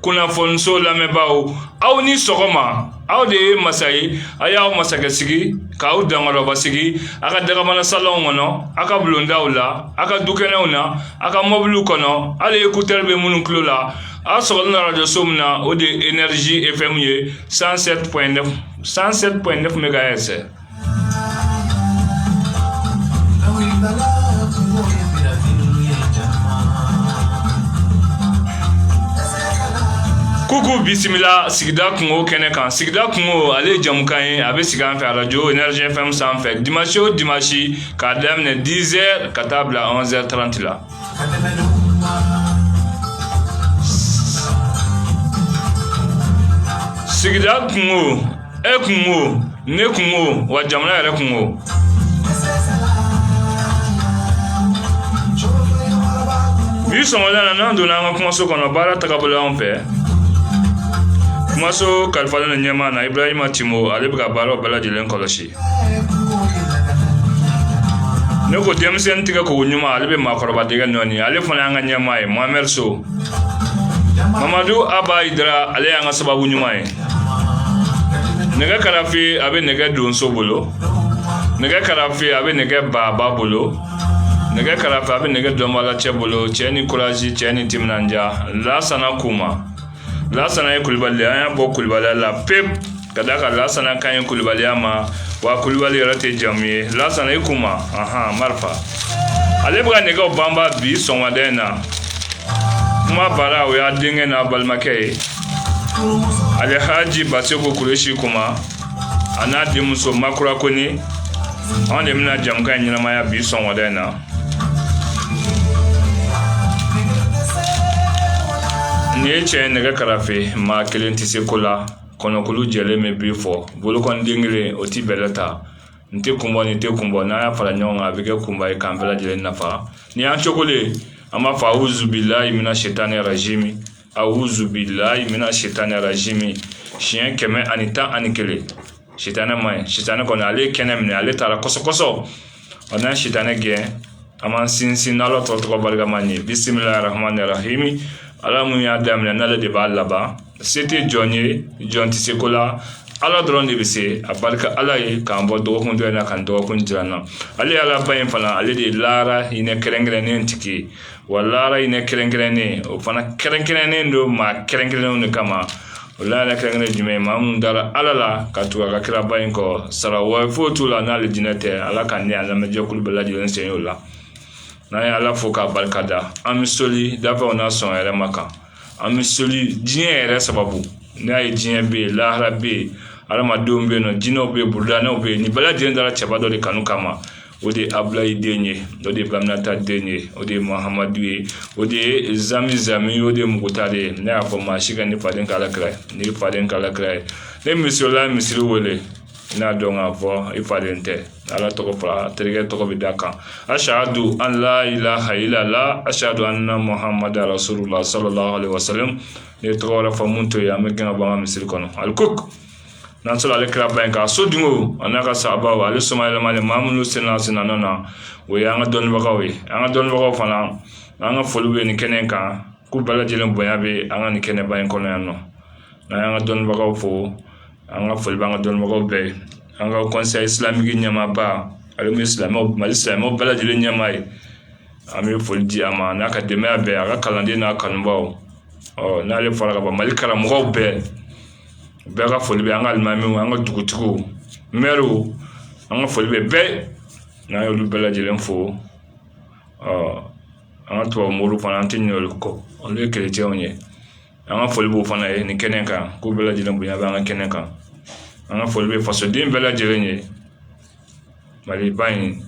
kunnafoniso lamɛnbaaw aw ni sɔgɔma aw de ye masa ye a y'aw masakɛ sigi k'aw dankɔrɔba sigi a ka dagabana salɔnw kɔnɔ a ka bulondaw la a ka dukɛnɛw na a ka mɔbiliw kɔnɔ hali ekutɛri bɛ minnu tulo la a sɔgɔlen na radiyoso min na o de ye energie fm ye 107.9 megahertz Ko ko bisimila sigida kunko kɛnɛ kan sigida kunko ale ye jɛmukan ye a bɛ sigi an fɛ arajo energie fm sanfɛ dimanche o dimanche k'a daminɛ 10 heures ka taa bila 11 heures 30 la sigida kunko e kunko ne kunko wa jamana yɛrɛ kunko bi sɔgɔmada in na n'an donna an ka kumaso kɔnɔ baara tagabolo an fɛ kumaso kalifalen don ɲɛmaa na ibrahima timo ale bɛ ka baaraw bɛɛ lajɛlen kɔlɔsi ne ko denmisɛnnin tɛgɛ ko ko ɲuman ale bɛ maakɔrɔba dɛgɛ nɔɔni ale fana y'an ka ɲɛmaa ye mohamɛdi so mamadu aba ayidara ale y'an ka sababu ɲuman ye nɛgɛ karafe a bɛ nɛgɛ donso bolo nɛgɛ karafe a bɛ nɛgɛ baaba bolo nɛgɛ karafe a bɛ nɛgɛ dɔnbaalacɛ bolo cɛ ni kurazi cɛ ni timinandiya lasana kuma lasana ye kulubali an y'a bɔ kulubaliya la pe ka da a kan lasana ka ɲi kulubaliya ma wa kulubali yɛrɛ tɛ jamu ye lasana i kuma ahan marahaba ale bɛ ka nɛgɛw banba bi sɔgɔmada in na kuma bara o y'a denkɛ n'a balimakɛ ye alihaji baseku kuresi kuma a n'a denmuso makura kɔnɛ anw de bɛna jɛmukan in ɲɛnamaya bi sɔgɔmada in na Nin ye cɛ ye nɛgɛ karafe maa kelen tɛ se ko la kɔnɔkulu jɛlen bɛ bii fɔ bolokɔnden kelen o tɛ bɛlɛ ta n tɛ kun bɔ ni tɛ kun bɔ n'an y'a fara ɲɔgɔn kan a bɛ kɛ kunba ye k'an bɛɛ lajɛlen nafa ni y'an cogo an b'a fɔ awuzu bilayi mina sitani rajimi awuzu bilayi mina sitani rajimi siɲɛ kɛmɛ ani tan ani kelen sitanɛ ma ɲi sitanɛ kɔni ale ye kɛnɛ minɛ ale taara kɔsɔkɔsɔ a n'an sitanɛ gɛn an b'an sinsin n'ala tɔgɔ tɔgɔ barikama ye bisimilahi rahmani rahimi ala min y'a daminɛ n'ale de b'a laban se tɛ jɔn ye jɔn tɛ se ko la ala dɔrɔn de bɛ se a barika ala ye k'an bɔ dɔgɔkun dɔ in na k'an dɔgɔkun jira an na ale ye alaba in fana ale de ye lahara hinɛ kɛrɛnkɛrɛnnen tigi ye wa laara in ne kɛrɛnkɛrɛnnen o fana kɛrɛnkɛrɛnnen don maa kɛrɛnkɛrɛnnenw de kama o laara kɛrɛnkɛrɛn jumɛn maa minnu dara ala la ka tugu a ka kiraba in kɔ sara wɛrɛ foyi t'u la n'alijinɛ tɛ ala ka ne a lamɛnjɛkulu bɛɛ lajɛlen sen y'o la n'an ye ala fo k'a barika da an bɛ soli dafɛnw n'a sɔn yɛrɛ ma kan an bɛ soli diɲɛ yɛrɛ sababu n'a ye diɲɛ bɛ yen lahara bɛ yen adamadenw bɛ yen nɔ jinɛw bɛ yen burudanɛw bɛ yen nin bɛɛ lajɛlen dara cɛba dɔ de kanu kama o de ye abilayi den ye o de ye baminata den ye o de ye mahamadu ye o de ye zami zami o de ye muguta de ye ne y'a fɔ maa si kan'e faden k'ala kira ye ne faden k'ala kira ye ne misalila misiri wele n y'a dɔn k'a fɔ i faden tɛ ala tɔgɔ fɔra terikɛ tɔgɔ bɛ d'a kan asadu an la ilaha ilala asadu an na muhamadu rasulula sallallahu alaihi wasallam n'e tɔgɔ wɛrɛ fɔ min t'o ye an b'i gɛn ka bɔ an ka misiri kɔnɔ alikok n'an sera ale kiraba in kan a sodenw a n'a ka sahabaw ale soma yɛlɛmalen maa minnu senna senna na o ye an ka dɔnnibagaw ye an ka dɔnnibagaw fana an ka foli bɛ nin kɛnɛ kan k'u bɛɛ lajɛlen bonya bɛ an ka nin kɛnɛba in kɔnɔ yan nɔ n'an y'an ka dɔnnibagaw fo an ka foli b'an ka dɔnnibagaw bɛɛ ye an ka conseil islamique ɲɛmaaba ale bɛ silamɛw mali silamɛw bɛɛ lajɛlen ɲɛmaa ye an bɛ foli di a ma n'a ka denbaya bɛɛ a ka kalanden n'a kanubaw ɔ n'ale fora ka ban mali karamɔgɔw bɛɛ bɛɛ ka foli bɛ an ka alimamiw an ka dugutigiw mɛriw an ka foli bɛ bɛɛ ye n'an y'olu bɛɛ lajɛlen fo an ka tubabu mori fana an tɛ ɲinɛ olu kɔ olu ye kerecɛnw ye an ka foli b'o fana ye nin kɛnɛ kan k'u bɛɛ lajɛlen bonya bɛ an ka kɛnɛ kan an ka foli bɛ fasoden bɛɛ lajɛlen ye maliba in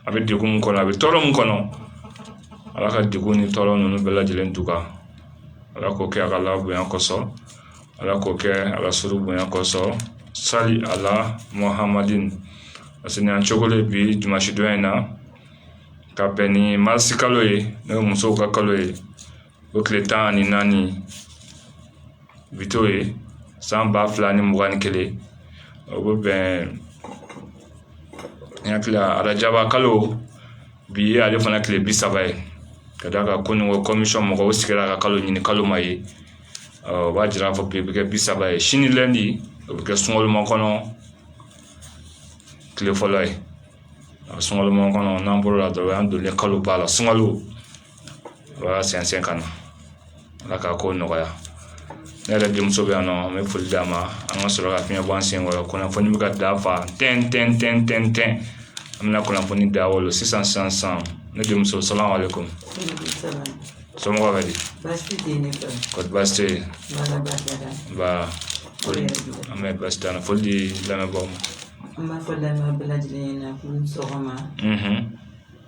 a bɛ degun min kɔnɔ a bɛ tɔɔrɔ min kɔnɔ ala ka degun ni tɔɔrɔ ninnu bɛɛ lajɛlen dugu ala k'o kɛ a k'ala bonya kosɔn ala k'o kɛ arasulu bonya kosɔn sali ala muhamadi parce que an cogo de bi dimasidon in na ka bɛn ni marisikalo ye n'o ye musow ka kalo ye o tile tan ani naani u bɛ t'o ye san ba fila ni mugan ni kelen o bɛ bɛn n hakili la arajaba kalo bi ye ale fana tile bi saba ye ka d'a kan kunun ko kɔmisɔn mɔgɔw sigira ka kalo ɲini kalo ma ye o b'a jira k'a fɔ bi bɛ kɛ bi saba ye sini lɛndi o bɛ kɛ sunkalomakɔnɔ tile fɔlɔ ye a sunkalomakɔnɔ n'an bɔr'o la dɔrɔn o y'an donnen ye kaloba la sunkalo o y'a sɛnsɛn ka na Ala ka ko nɔgɔya ne yɛrɛ denmuso bɛ yan nɔ n bɛ foli d'a ma an ka sɔrɔ ka fiɲɛ bɔ an sen kɔrɔ kunnafoni bɛ ka da fa tɛntɛn tɛntɛn tɛntɛn tɛntɛn tɛntɛn an bɛna kunnafoni da o la sisan sisan sisan ne denmuso salamu aleykum somɔgɔw bɛ di kɔri baasi tɛ yen nba foli an bɛ baasi t'an na foli di lamɛnbaaw ma an b'a fɔ lamɛnbaa bɛɛ lajɛlen ɲɛna k'aw ni sɔgɔma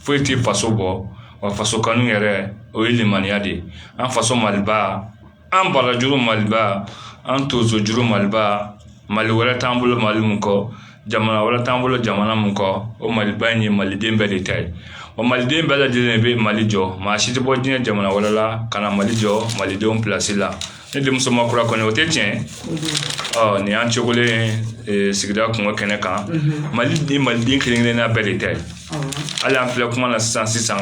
foyi tɛ faso bɔ wa faso kanu yɛrɛ o ye limaniya de ye an faso maliba an barajuru maliba an tonsojuru maliba mali wɛrɛ t'an bolo mali min kɔ jamana wɛrɛ t'an bolo jamana min kɔ o maliba in ye maliden bɛɛ de ta ye o maliden bɛɛ lajɛlen bɛ mali jɔ maa si tɛ bɔ diɲɛ jamana wɛrɛ la ka na mali jɔ malidenw plasi la ne denmuso makura kɔnɛ o tɛ tiɲɛ ɔ nin y'an cogolen sigida kunko kɛnɛ kan mali ye maliden kelen-kelenna bɛɛ de ta ye hali an filɛ kuma na sisan sisan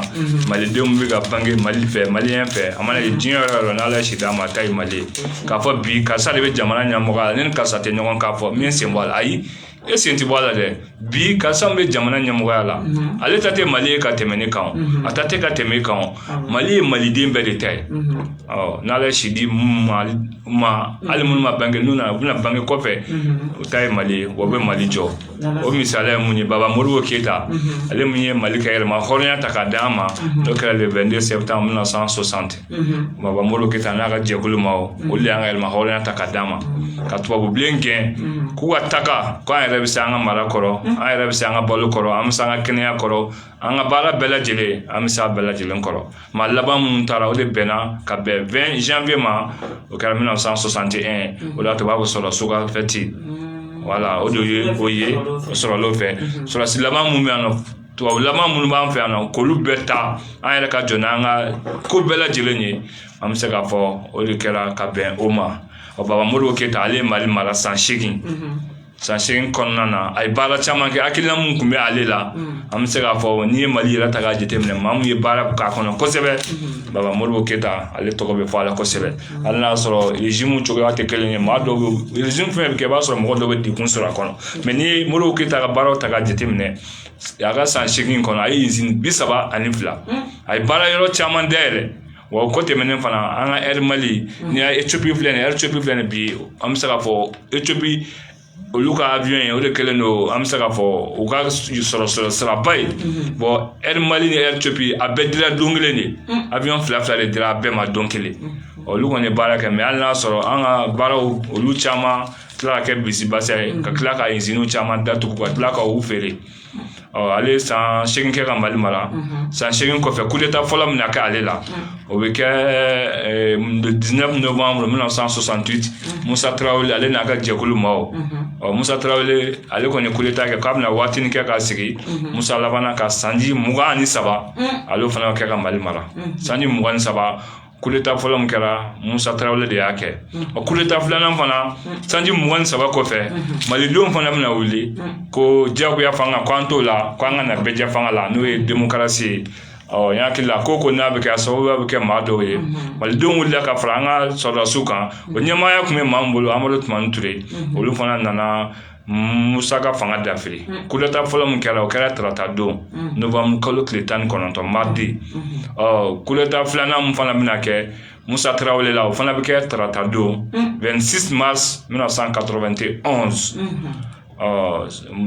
malidenw bɛ ka bange mali fɛ maliyɛn fɛ a mana kɛ diɲɛ yɔrɔ o yɔrɔ n'ala ye si d'a ma a ta ye mali ye k'a fɔ bi karisa de bɛ jamana ɲɛmɔgɔya la ne ni karisa tɛ ɲɔgɔn k'a fɔ n bɛ n sen bɔ a la ayi e sen ti bɔ a la dɛ bi karisa min bɛ jamana ɲɛmɔgɔya la mhm. ale ta tɛ mali ye ka tɛmɛ ne kan mhm. a ta tɛ ka tɛmɛ e kan ah mali ye maliden bɛɛ de ta ye mhm. ɔ n'ala ye si d'i ma hali minnu ma bange n'u nana u bɛna bange kɔfɛ u ta ye mali ye wa u bɛ mali jɔ o misaliya ye mun ye baba modibo keyita ale min ye mali ka yɛrɛmahɔrɔnya ta k'a d'an ma n'o kɛra le 22 septembre 1960 baba modibo keyita n'a ka jɛkulu ma olu de y'an ka yɛrɛmahɔrɔnya ta ka d'an ma ka tubabu bilen gɛn k'u ka taga k'an yɛrɛ bɛ se an ka mara kɔrɔ an yɛrɛ bɛ se an ka balo kɔrɔ an bɛ se an ka kɛnɛya kɔrɔ an ka baara bɛɛ lajɛlen an bɛ se a bɛɛ lajɛlen kɔrɔ maa laban minnu taara o de bɛnna ka bɛn 20 janvier ma o kɛra 1961 o la to b'a ko sɔrɔdasi ka fɛti wala o de ye o ye sɔrɔ fɛ sɔrɔdasi laban minnu bɛ yan nɔ tubabulama minnu b'an fɛ yan nɔ k'olu bɛɛ taa an yɛrɛ ka jɔ n'an ka ko bɛɛ lajɛlen ye an bɛ se k'a fɔ o de kɛra ka bɛn o ma ɔ baba modibo keyita ale ye mali mara san seegin san seegin kɔnɔna na a ye baara caman kɛ hakilina min tun bɛ ale la an bɛ se k'a fɔ n'i ye mali yɛrɛ ta k'a jateminɛ maa min ye baara k'a kɔnɔ kosɛbɛ baba modibo keyita ale tɔgɔ bɛ fɔ a la kosɛbɛ hali n'a sɔrɔ regimu cogoya tɛ kelen ye maa dɔw bɛ regimu fɛn o fɛn bɛ kɛ i b'a sɔrɔ mɔgɔ dɔw bɛ degun sɔrɔ a kɔnɔ mɛ n'i ye modibo keyita ka baaraw ta k'a jateminɛ a ka san segin kɔnɔ a ye izini bi saba ani fila a ye baara yɔrɔ caman da yɛrɛ wa o ko tɛmɛnen fana an ka air mali etiyopi filɛ etiyopi filɛ nin bi an bɛ se k'a fɔ etiyopi olu ka aviyɔn ye o de kɛlen don an bɛ se k'a fɔ u ka sɔrɔ sɔrɔ siraba ye bon mali ni etiyopi a bɛɛ dira don kelen de aviyɔn fila fila de dira a bɛɛ ma don kelen olu kɔni baara kɛ mɛ an y'a sɔrɔ an ka baaraw olu caman tila ka kɛ bisimilabasa ye ka tila ka iziniw caman datugu ka tila ka u feere ɔ ale san seegin kɛ ka mali mara san seegin kɔfɛ kudeta fɔlɔ min na kɛ ale la o bɛ kɛ le 19 novembre 1968 musa tarawele ale n'a ka jɛkulu ma o ɔ musa tarawele ale kɔni kudeta kɛ k'a bɛna waatinin kɛ ka sigi musa labanna ka sanji mugan ni saba ale fana kɛ ka mali mara sanji mugan ni saba kudeta fɔlɔ min kɛra musa tarawele de y'a kɛ o kudeta filanan fana sanji mugan ni saba kɔfɛ malidenw fana bɛna wuli ko diyagoya fanga ko an t'o la ko an ka na bɛɛjɛ fanga la n'o ye demokarasi ye ɔ ne hakili la ko ko n'a bɛ kɛ a sababuya bɛ kɛ maa dɔw ye malidenw wulila ka fara an ka sɔrɔdasiw kan o ɲɛmaaya tun bɛ maa min bolo amadu tumani ture olu fana nana musa ka fanga dafiri kudeta fɔlɔ min kɛra o kɛra tarata don nowanburukalo tile tan ni kɔnɔntɔn mardi ɔ kudeta filanan min fana bɛna kɛ musa tarawele la o fana bɛ kɛ tarata don vingt-six mars mille neuf cent quatre-vingt-onze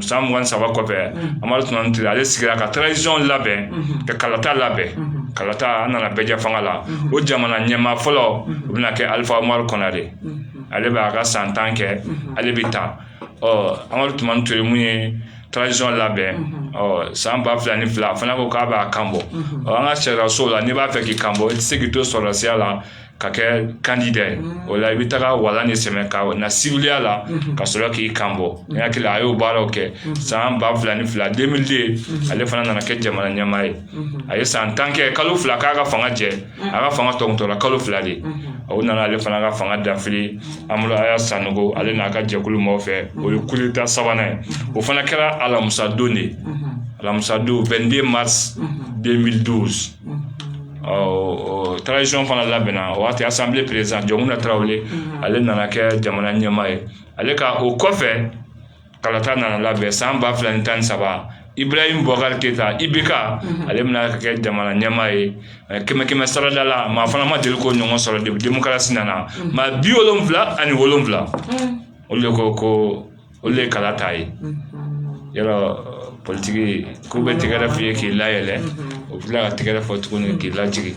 san mugan ni saba kɔfɛ amadu tumani ture ale sigira ka tarazisɔn labɛn ka kalata labɛn kalata an nana bɛɛjɛ fanga la o jamana ɲɛmaa fɔlɔ o bɛna kɛ alifa umaru konare ale b'a ka san tan kɛ ale bɛ taa ɔ amadu tumani ture min ye tarazisɔn labɛn ɔ san ba fila ni fila a fana ko k'a b'a kan bɔ ɔ an ka sariyasun la n'i b'a fɛ k'i kan bɔ i tɛ se k'i to sɔrɔdasiya la ka kɛ kandida ye o la i bɛ taga wala ni sɛmɛ ka na siwiliya la ka sɔrɔ k'i kan bɔ n hakili la a y'o baaraw kɛ san ba fila ni fila deux mille deux ale fana nana kɛ jamana ɲɛmaa ye a ye san tan kɛ kalo fila k'a ka fanga jɛ a ka fanga tɔ tora kalo fila de o nana ale fana ka fanga dafiri amadu aya sanogo ale n'a ka jɛkulu maaw fɛ o ye kudeta sabanan ye o fana kɛra alamisadon de alamisadon vingt-deux mars deux mille douze ɔ tarazisɔn fana labɛnna o waati asanbile peresidan jɔnkunda tarawele ale nana kɛ jamana ɲɛmaa ye ale ka o kɔfɛ kalata nana labɛn san ba fila ni tan ni saba iburahima bubakari keyita ibeka mhm. ale bɛna ka kɛ jamana ɲɛmaa ye kɛmɛ kɛmɛ sarada la maa fana ma deli k'o ɲɔgɔn sɔrɔ de demokarasi nana mhm. maa bi wolonwula ani wolonwula mhm. olu de ko ko olu de kala ta ye yɔrɔ politigi k'u bɛ tɛgɛrɛ f'i ye k'i layɛlɛ u bɛ tila ka tɛgɛrɛ fɔ tuguni k'i lajigin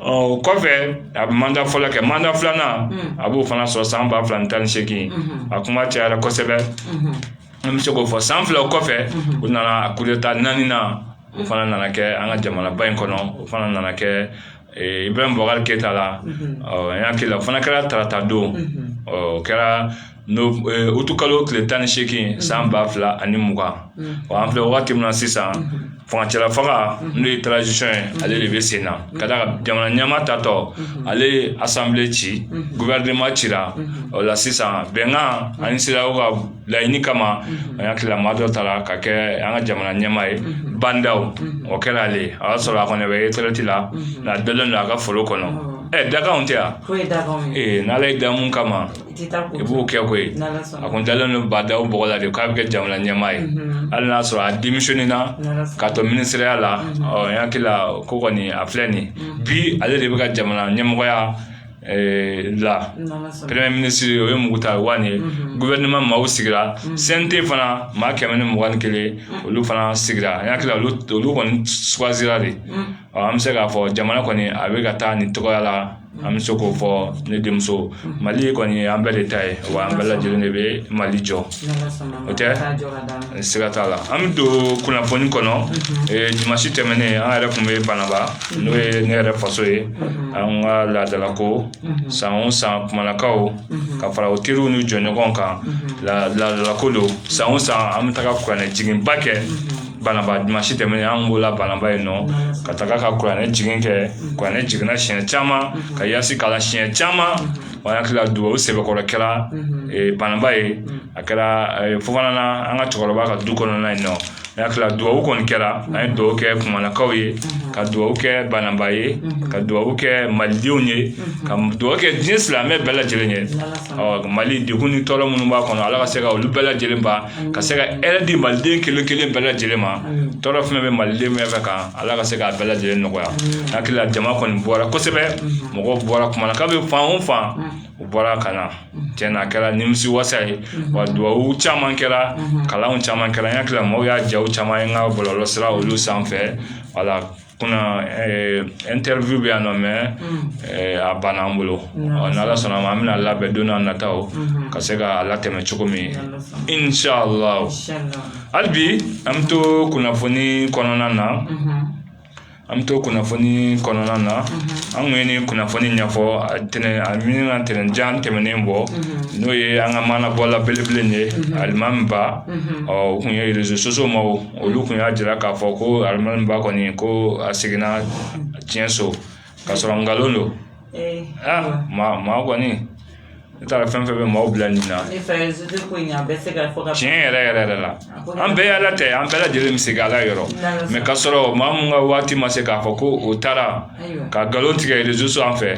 o kɔfɛ a bɛ manda fɔlɔ kɛ manda filanan a b'o fana sɔrɔ san ba fila ni tan ni seegin a kuma cayara kosɛbɛ an bɛ se k'o fɔ san fila kɔfɛ u nana kudeta naaninan o fana nana kɛ an ka jamanaba in kɔnɔ o fana nana kɛ iburahima bubakari keyita la ne hakili la o fana kɛra tarata don o kɛra n'o utikalo tile tan ni seegin san ba fila ani mugan wa an filɛ wagati min na sisan furancɛla fanga n'o ye tarazisɔn ye ale de bɛ sen na ka d'a kan jamana ɲɛmaa taatɔ ale ye asanbile ci guvɛrɛnema cira o la sisan bɛnkan ani sedeyawo ka laɲini kama an y'a tila maa dɔ ta la ka kɛ an ka jamana ɲɛmaa ye ba ndaw o kɛra ale ye a y'a sɔrɔ a kɔni bɛ eretirɛti la nka dogolen don a ka foro kɔnɔ ɛ dakanw tɛ yan n'ala y'i da min kama i b'o kɛ koyi a kun dalen don ba ndaw bɔgɔ la de k'a bɛ kɛ jamana ɲɛmaa ye hali n'a sɔrɔ a denmisɛnnin na ka to minisiriya la ɔ n hakili la ko kɔni a filɛ nin bi ale de b'an ka jamana ɲɛmɔgɔya la premier ministre o ye moctar ouane ye gouvernement maaw sigira CNT fana maa kɛmɛ ni mugan ni kelen olu fana sigira n hakili la olu olu kɔni sugandira de ɔ an bɛ se k'a fɔ jamana kɔni a bɛ ka taa nin tɔgɔya la an bɛ se k'o fɔ ne denmuso mali kɔni an bɛɛ de ta ye wa an bɛɛ lajɛlen de bɛ mali jɔ o tɛ siga t'a la an bɛ don kunnafoni kɔnɔ dimansi tɛmɛnen an yɛrɛ tun bɛ bananba n'o ye ne yɛrɛ faso ye an ka laadalako san o san kumalakaw ka fara u teriw ni jɔɲɔgɔn kan laadalako don san o san an bɛ taga kuranɛ jiginba kɛ bananba dimansi tɛmɛnen an b'o la bananba yen nɔ ka taga ka kuranɛ jigin kɛ kuranɛ jiginna siɲɛ caman ka yasin kalan siɲɛ caman o y'an hakili la duwawu sɛbɛkɔrɔ kɛra ee, bananba yen a kɛra ee, fofanala an ka cɛkɔrɔba ka du kɔnɔna yen nɔ an hakili la duwawu kɔni kɛra an ye duwawu kɛ kumalakaw ye ka duwawu kɛ bananba ye ka duwawu kɛ malidenw ye ka duwawu kɛ diɲɛ silamɛ bɛɛ lajɛlen ye ɔ mali degun ni tɔɔrɔ minnu b'a kɔnɔ ala ka se ka olu bɛɛ lajɛlen ban ka se ka hɛrɛ di maliden kelen kelen bɛɛ lajɛlen ma tɔɔrɔ fɛn bɛ maliden bɛɛ kan ala ka se k'a bɛɛ lajɛlen nɔgɔya hakili la jama kɔni bɔra kosɛbɛ mɔgɔ bɔra kumalakaw bɛ fan o fan u bɔra ka na tiɲɛ na a kɛra nimisi wasa ye wa dubabu caman kɛra kalan caman kɛra n hakili la maaw y'a jaw caman ye n ka bɔlɔlɔ sira olu sanfɛ wala kunna ɛntɛriwiw bɛ yan nɔ mɛ a banna an bolo ɔ n'ala sɔnna a ma an bɛn'a labɛn don n'a nataw ka se k'a latɛmɛ cogo min inshallah hali bi an bɛ to kunnafoni kɔnɔna na an bɛ to kunnafoni kɔnɔna na an kun ye nin kunnafoni ɲɛfɔ a tɛnɛn a min ka tɛnɛn jan tɛmɛnen bɔ n'o ye an ka maanabɔla belebele in ye alimami ba ɔ u kun ye réseaux sociaux maaw olu tun y'a jira k'a fɔ ko alimami ba kɔni ko a seginna tiɲɛ so ka sɔrɔ nkalon don maa kɔni n taara fɛn fɛn bɛ maaw bila nin na tiɲɛ yɛrɛ yɛrɛ yɛrɛ la an bɛɛ y'ala ta ye an bɛɛ lajɛlen bɛ segin ala yɔrɔ mɛ ka sɔrɔ maa min ka waati ma se k'a fɔ ko o taara ka nkalon tigɛ réseaux sanfɛ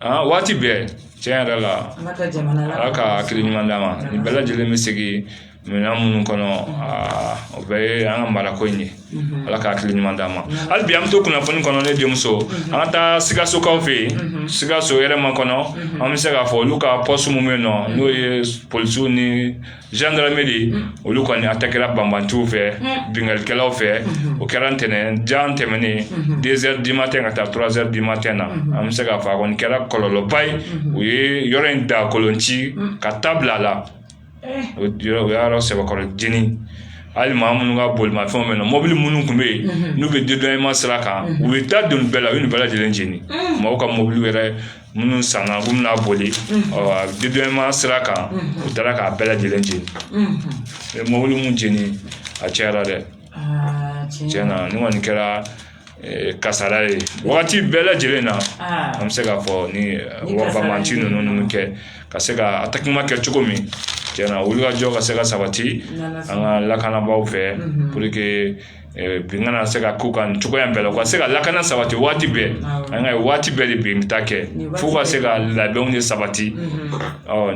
aa waati bɛɛ tiɲɛ yɛrɛ la ala ka hakili ɲuman d'an ma nin bɛɛ lajɛlen bɛ segin minɛn minnu kɔnɔ aa o bɛɛ ye an ka marako in ye ala ka hakili ɲuman d'an ma hali bi an bɛ to kunnafoni kɔnɔ ne denmuso an ka taa sikasokaw fɛ yen sikaso yɛrɛma kɔnɔ an bɛ se k'a fɔ olu ka pɔsi minnu bɛ yen nɔ n'o ye polisiw ni zandarameri olu kɔni atakera banbaganciw fɛ binkannikɛlaw fɛ o kɛra ntɛnɛn don tɛmɛnen 2 heures du matin ka taa 3 heures du matin na an bɛ se k'a fɔ a kɔni kɛra kɔlɔlɔba ye u ye yɔrɔ in da kolon ci ka ta bila a la u y'a sɛbɛkɔrɔ jeni hali maa minnu ka bolimafɛnw bɛ na mɔbili minnu tun bɛ yen n'u bɛ di dɔn ma sira kan u ye ta don bɛɛ la u ye bɛɛ lajɛlen jeni mɔgɔw ka mɔbili wɛrɛ minnu sanna u bɛna boli ɔ sira kan u taara k'a bɛɛ lajɛlen jeni mɔbili min jeni a cayara dɛ tiɲɛ na nin kɔni kɛra kasara ye wagati bɛɛ lajɛlen na an bɛ se k'a fɔ ni banbaganci ninnu ninnu bɛ ka se ka atakeman kɛ cogo min tiɲɛ na wulikajɔ ka se ka sabati an ka lakanabaaw fɛ bin kana se ka kɛ u kan cogoya bɛɛ la u ka se ka lakana sabati waati bɛɛ nka waati bɛɛ de bin ta kɛ fo ka se ka labɛnw de sabati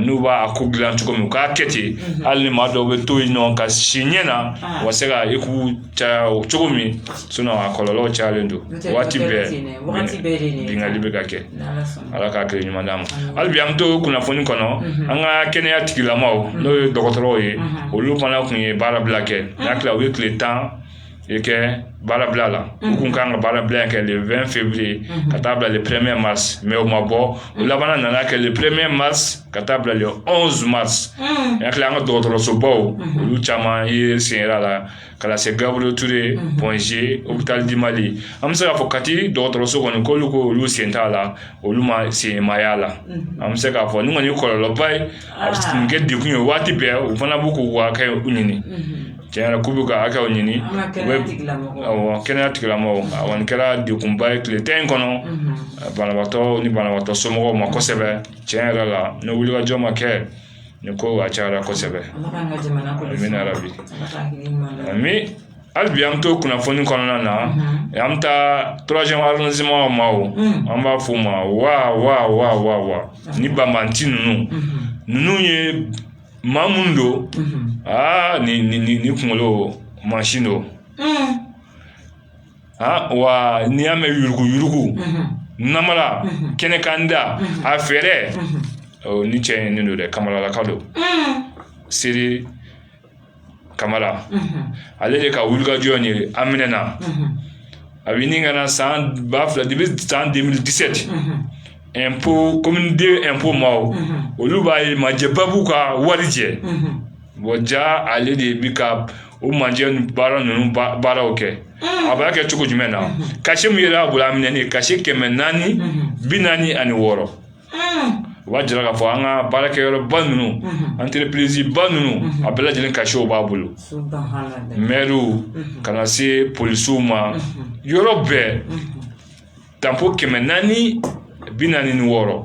n'u b'a ko dilan cogo min u k'a kɛ ten hali ni maa dɔw bɛ to yen nɔ ka si ɲɛ na u ka se ka i k'u caya o cogo min a kɔlɔlɔ cayalen don waati bɛɛ binkanni bɛ ka kɛ ala k'a kɛ ɲuman d'a ma hali bi an bɛ to kunnafoni kɔnɔ an ka kɛnɛya tigilamaw n'o ye dɔgɔtɔrɔw ye olu fana tun ye baarabila kɛ n y'a tila u ye tile tan de kɛ baarabila la u tun ka kan ka baarabila kɛ le 20 février ka taa bila le 1er mars mais o ma bɔ u labanna nana kɛ le 1er mars ka taa bila le 11 mars n y'a tila an ka dɔgɔtɔrɔsobaw olu caman ye senyira la ka se gabriel touré point g hôpital du mali an bɛ se k'a fɔ kati dɔgɔtɔrɔso kɔni ko olu ko olu sen t'a la olu ma sen maga a la an bɛ se k'a fɔ nin kɔni kɔlɔlɔba ye a kɛ de kun ye waati bɛɛ u fana b'u ka droit ɲini cɛ k'u b'u ka hakɛw ɲini kɛnɛya tigilama kɛra degunba ye tile tan in kɔnɔ banabagatɔ ni banabagatɔ somɔgɔw ma kosɛbɛ tiɲɛ yɛrɛ la ni wulikajɔ ma kɛ ni ko a cayara kosɛbɛ bi hali bi an bɛ to kunnafoni kɔnɔna na an bɛ taa tɔrɔmazɔnw ma o an b'a fɔ o ma wa wa ni banbaganci ninnu ninnu ye maa minnu don aa nin kunkolo mansin don A wa n'i y'a mɛn yurugu yurugu namara kɛnɛ kan da a fɛɛrɛ ni cɛ ye ne don dɛ kamaralaka don seli kamara ale de ka wulikajɔ in a minɛna a bɛ ɲini ka na san ba fila de bɛ san 2017 impôt commune 2 impôt maaw olu b'a ye majɛbabu ka warijɛ Bon ja ale de bi ka o manjɛ baara ninnu baaraw kɛ a b'a kɛ cogo jumɛn na cachet min yera a bolo a minɛnen cachet kɛmɛ naani bi naani ani wɔɔrɔ o b'a jira k'a fɔ an ka baarakɛyɔrɔba ninnu entrepriseba ninnu a bɛɛ lajɛlen cachetw b'a bolo mɛriw ka na se polisiw ma yɔrɔ bɛɛ tanpɔn kɛmɛ naani bi naani ni wɔɔrɔ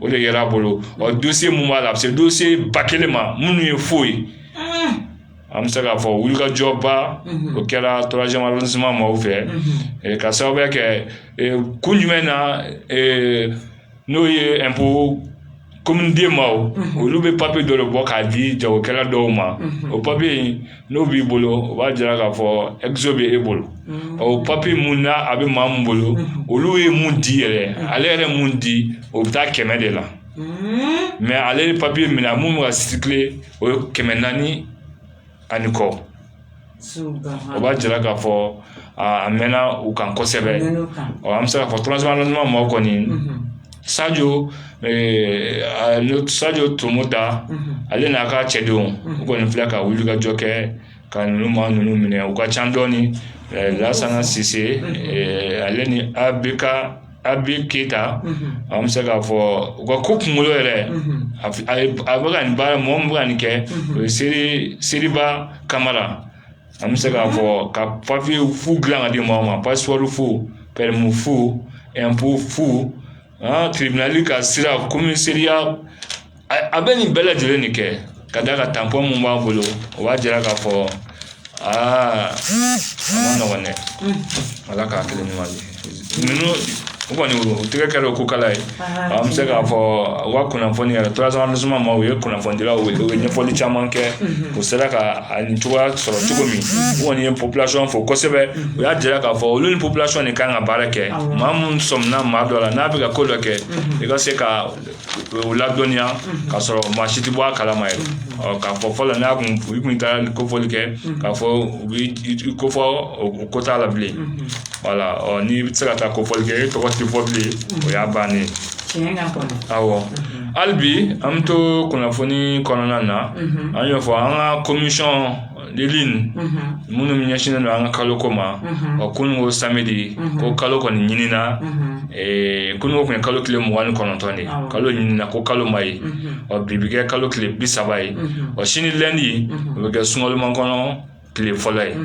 o de yera a bolo ɔ dossier mun b'a la a bɛ se dossier ba kelen ma minnu ye faux ye an bɛ se k'a fɔ wulikajɔba o kɛra troisième arrondissement maaw fɛ ka sababuya kɛ kun jumɛn na n'o ye impôt commune deux maaw olu bɛ papiye dɔ bɔ k'a di jagokɛla dɔw ma o papiye n'o b'i bolo o b'a jira k'a fɔ exo bɛ e bolo ɔ papiye min na a bɛ maa min bolo olu ye mun di yɛrɛ ale yɛrɛ mun di o bɛ taa kɛmɛ de la mɛ ale papiye minɛ a minnu ka circuler o ye kɛmɛ naani ani kɔ o b'a jira k'a fɔ a mɛnna u kan kosɛbɛ ɔ an bɛ se k'a fɔ troisième arrondissement maaw kɔni sajo sajo tomoda ale n'a ka cɛdenw u kɔni filɛ ka wulikajɔ kɛ ka ninnu maa ninnu minɛ u ka ca dɔɔnin lasana sise ale ni a bɛ ka a bɛ keyita an bɛ se k'a fɔ u ka ko kunkolo yɛrɛ a bɛ ka nin baara mɔgɔ min bɛ ka nin kɛ o ye seriba kamara an bɛ se k'a fɔ ka papiye faux dilan ka di maaw ma passeport faux permis faux impôt faux aa tribunal ka sira commissariat a bɛ nin bɛɛ lajɛlen de kɛ ka d'a kan tanpɔn mun b'a bolo o b'a jira k'a fɔ aa a man nɔgɔn dɛ ala k'a kelen ɲuman di ninnu o kɔni o tɛgɛ kɛra o ko kala ye an bɛ se k'a fɔ u ka kunnafoni yɛrɛ troisième arrondissement maaw ye kunnafonidilaw ye u ye ɲɛfɔli caman kɛ u sera ka a nin cogoya sɔrɔ cogo min u kɔni ye population fo kosɛbɛ u y'a jira k'a fɔ olu ni population de kan ka baara kɛ maa minnu sɔmina maa dɔ la n'a bɛ ka ko dɔ kɛ i ka se ka u ladɔnniya ka sɔrɔ maa si tɛ bɔ a kalama yɛrɛ ɔ k'a fɔ fɔlɔ n'a kun i kun taara kofɔli kɛ k'a fɔ u bɛ ko fɔ o ko t'a la bilen wala ɔ n'i bɛ se ka taa kofɔli kɛ e tɔgɔ tɛ fɔ bilen o y'a bannen ye awɔ hali bi an bɛ to kunnafoni kɔnɔna na an y'o fɔ an ka komisɔn lili minnu ɲɛsinnen don an ka kalo ko ma ɔ kunun ko samedi ko kalo kɔni ɲinina kunun ko tun ye kalo tile mugan ni kɔnɔntɔn de kalo ɲinina ko kalo ma ye ɔ bi bɛ kɛ kalo tile bi saba ye ɔ sini lɛndi o bɛ kɛ sunkalomakɔnɔ tile fɔlɔ ye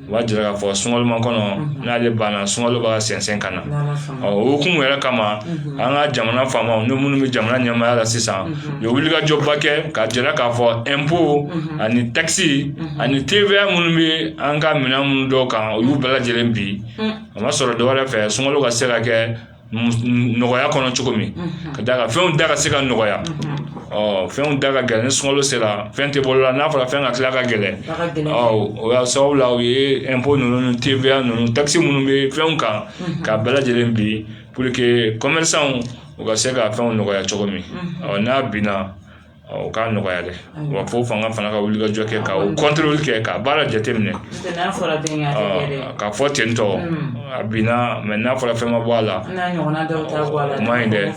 o b'a jira k'a fɔ sunkalomakɔnɔ n'ale banna sunkalo bɛ ka sɛnsɛn ka na Ɔ o hukumu yɛrɛ kama an ka jamana faamaw ni minnu bɛ jamana ɲɛmaaya la sisan u ye wulikajɔba kɛ ka jira k'a fɔ ɛnpo ani takisi ani TVA minnu bɛ an ka minɛn minnu dɔw kan u y'u bɛɛ lajɛlen bin o ma sɔrɔ dɔ wɛrɛ fɛ sunkalo ka se ka kɛ nɔgɔya kɔnɔ cogo min ka da ka fɛnw da ka se ka nɔgɔya ɔ fɛnw da ka gɛlɛn ni sunkalo sera fɛn tɛ bolo la n'a fɔra fɛn ka tila ka gɛlɛn ɔ o y'a sababu la u ye ɛnpo ninnu ni TVA ninnu takisi minnu bɛ fɛnw kan k'a bɛɛ lajɛlen bin pour que commerçants u ka se ka fɛnw nɔgɔya cogo min ɔ n'a binna o k'a nɔgɔya dɛ wa fo fanga fana ka wulikajɔ kɛ ka o kɔntɔrɔli kɛ ka baara jateminɛ ka fɔ ten tɔ a binna mɛ n'a fɔra fɛn ma bɔ a la o ma ɲi dɛ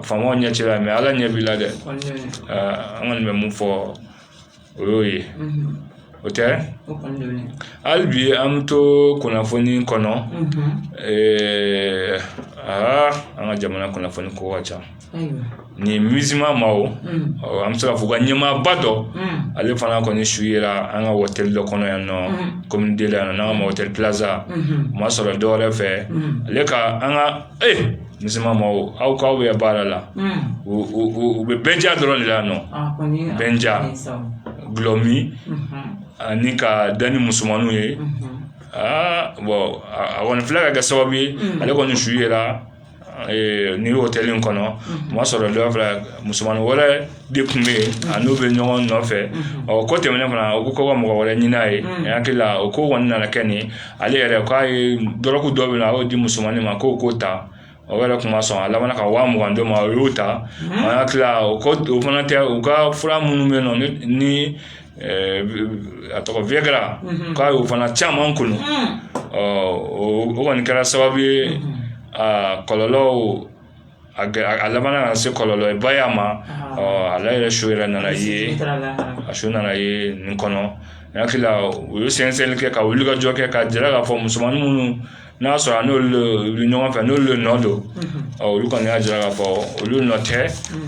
faamaw ɲɛ t'i la mɛ ala ɲɛ b'i la dɛ an kɔni bɛ min fɔ o y'o ye o tɛ hali bi an bɛ to kunnafoni kɔnɔ aa an ka jamana kunnafoni ko ka ca nin mizima ma o an bɛ se k'a fɔ ka ɲɛmaaba dɔ ale fana kɔni su yera an ka hôtel dɔ kɔnɔ yan nɔ commune deux la yan n'an k'a ma hôtel Plaza o ma sɔrɔ dɔwɛrɛ fɛ ale ka an ka ee Ni ma aw k'aw bɛ baara la u bɛ bɛn ja dɔrɔn de la nɔ bɛn ja dɔlɔ min ani ka da ni musoman ye aa bɔn a kɔni fila ka kɛ sababu ye ale kɔni su yera nin hôtel kɔnɔ o y'a sɔrɔ dɔw fila musoman wɛrɛ de tun bɛ yen a n'u bɛ ɲɔgɔn nɔfɛ ɔ ko tɛmɛnen fana u ko ka mɔgɔ wɛrɛ ɲinin a ye a hakili la o ko kɔni nana kɛ nin ale yɛrɛ k'a ye dɔrɔgu dɔ bɛ a y'o di musomannin ma k'o k'o ta o yɛrɛ tun ma sɔn a laban ka waa mugan d'o ma o y'o ta a hakili o ko o fana tɛ u ka fura minnu bɛ nɔ ni a tɔgɔ viagra a y'o fana caman kunun ɔ o kɔni kɛra sababu ye kɔlɔlɔ a a laban ka se kɔlɔlɔ ye ba y'a ma ale yɛrɛ su yɛrɛ nana ye a su nana ye nin kɔnɔ n hakili u ye sɛgɛsɛgɛli kɛ ka wulikajɔ kɛ ka jira k'a fɔ musomannin minnu n'a y'a sɔrɔ n'olu ɲɔgɔn fɛ n'olu de nɔ don olu kɔni y'a jira k'a fɔ olu nɔ tɛ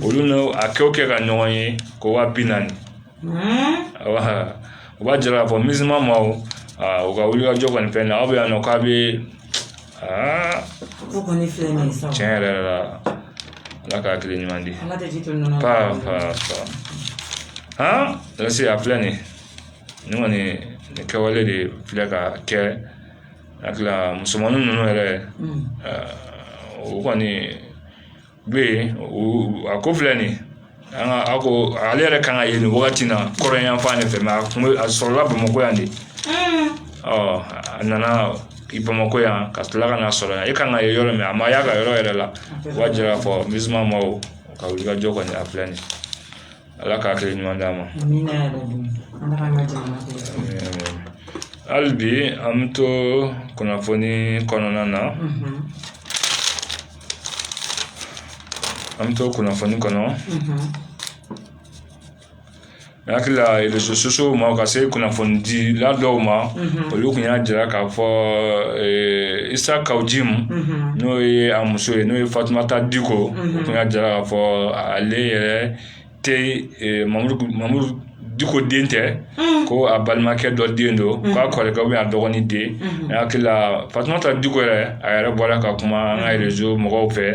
olu a kɛ kɛ ka ɲɔgɔn ye ko wa bi naani u b'a jira k'a fɔ ma aa u ka wulikajɔ kɔni fɛn na aw bɛ yan nɔ k'a bɛ aa tiɲɛ yɛrɛ yɛrɛ la ala ka hakili ɲuman di paa paa paa han lase a filɛ nin nin kɔni nin kɛwale de filɛ ka kɛ hakili la musomanin ninnu yɛrɛ u kɔni bɛ yen a ko filɛ nin ye an ka a ko ale yɛrɛ kan ka ye nin wagati in na kɔrɔ yan fan de fɛ a kun a sɔrɔla bamakɔ yan de ɔ a nana i bamakɔ yan ka tila ka na sɔrɔ yan i kan ka ye yɔrɔ min a ma y'a ka yɔrɔ yɛrɛ la o b'a jira k'a fɔ misima ma o ka wuli ka jɔ kɔni a filɛ nin ye ala ka hakili ɲuman d'an ma hali bi an bɛ to kunnafoni kɔnɔna na an bɛ to kunnafoni kɔnɔ n hakili la rezo sosiyo ma ka se kunnafonidila dɔw ma olu tun y'a jira k'a fɔ isa kawu jimu n'o ye a muso ye n'o ye fatumata diko o tun y'a jira k'a fɔ ale yɛrɛ diko den tɛ ko a balimakɛ dɔ den don k'a kɔrɔkɛ a dɔgɔnin den hakili fatumata diko yɛrɛ a yɛrɛ bɔra ka kuma an ka rezo mɔgɔw fɛ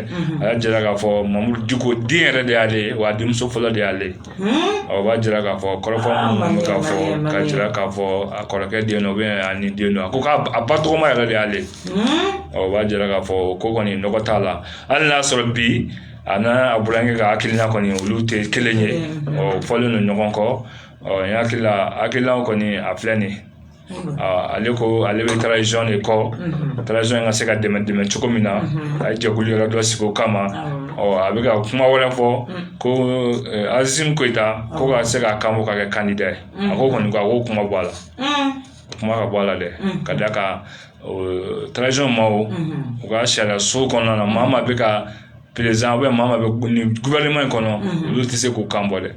a jira k'a fɔ mamudu diko den yɛrɛ de y'ale ye wa denmuso fɔlɔ de y'ale ɔ b'a jira k'a fɔ kɔrɔ ka fɔ ka jira k'a fɔ a kɔrɔkɛ den o bɛ ni den don a ko k'a ba tɔgɔma yɛrɛ de y'ale ɔ b'a jira k'a fɔ ko kɔni t'a la hali y'a sɔrɔ bi a n'a burankɛ ka hakilina kɔni olu tɛ kelen ye ɔ fɔlen don ɲɔgɔn kɔ ɔ n hakili la hakilina kɔni a filɛ nin ye ale ko ale bɛ taranzisɔn de kɔ taranzisɔn in ka se ka dɛmɛ dɛmɛ cogo min na a ye jɛkulu yɔrɔ dɔ sigi o kama ɔ a bɛ ka kuma wɛrɛ fɔ ko asimi goyita ko ka se k'a kan bɔ ka kɛ kandida ye a ko kɔni ko a ko kuma bɔ a la kuma ka bɔ a la dɛ ka d'a kan tz ma u ka sariya so kɔnɔna na maa ma bɛ ka perez u bɛ gofɛrɛnaman in kɔnɔ olu tɛ se k'u kan bɔ dɛ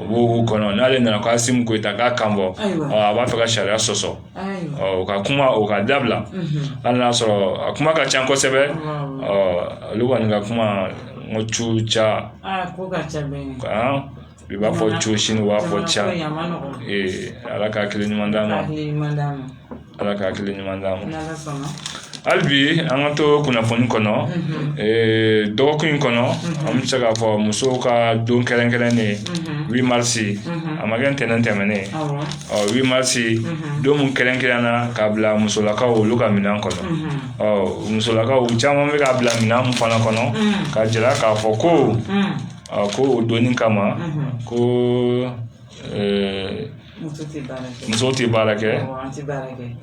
u b'o kɔnɔ n'ale nana k'asimi goyita k'a kan bɔ a b'a fɛ ka sariya sɔsɔ u ka kuma u ka dabila hali y'a sɔrɔ a kuma ka ca kosɛbɛ ɔ olu kɔni ka kuma n ci ca i b'a fɔ cosin u b'a fɔ ca ee ala ka hakili ɲuman d'an ma ala ka hakili ɲuman d'an ma hali bi an ka to kunnafoni kɔnɔ dɔgɔkun in kɔnɔ an bɛ se k'a fɔ musow ka don kɛrɛnkɛrɛnnen wi marisi a ma kɛ ntɛnɛn tɛmɛnen ɔ wi marisi don min kɛrɛnkɛrɛnna ka bila musolakaw olu ka minɛn kɔnɔ ɔ musolakaw caman bɛ ka bila minɛn min fana kɔnɔ ka jira k'a fɔ ko A ko o don in kama ko muso tɛ baara kɛ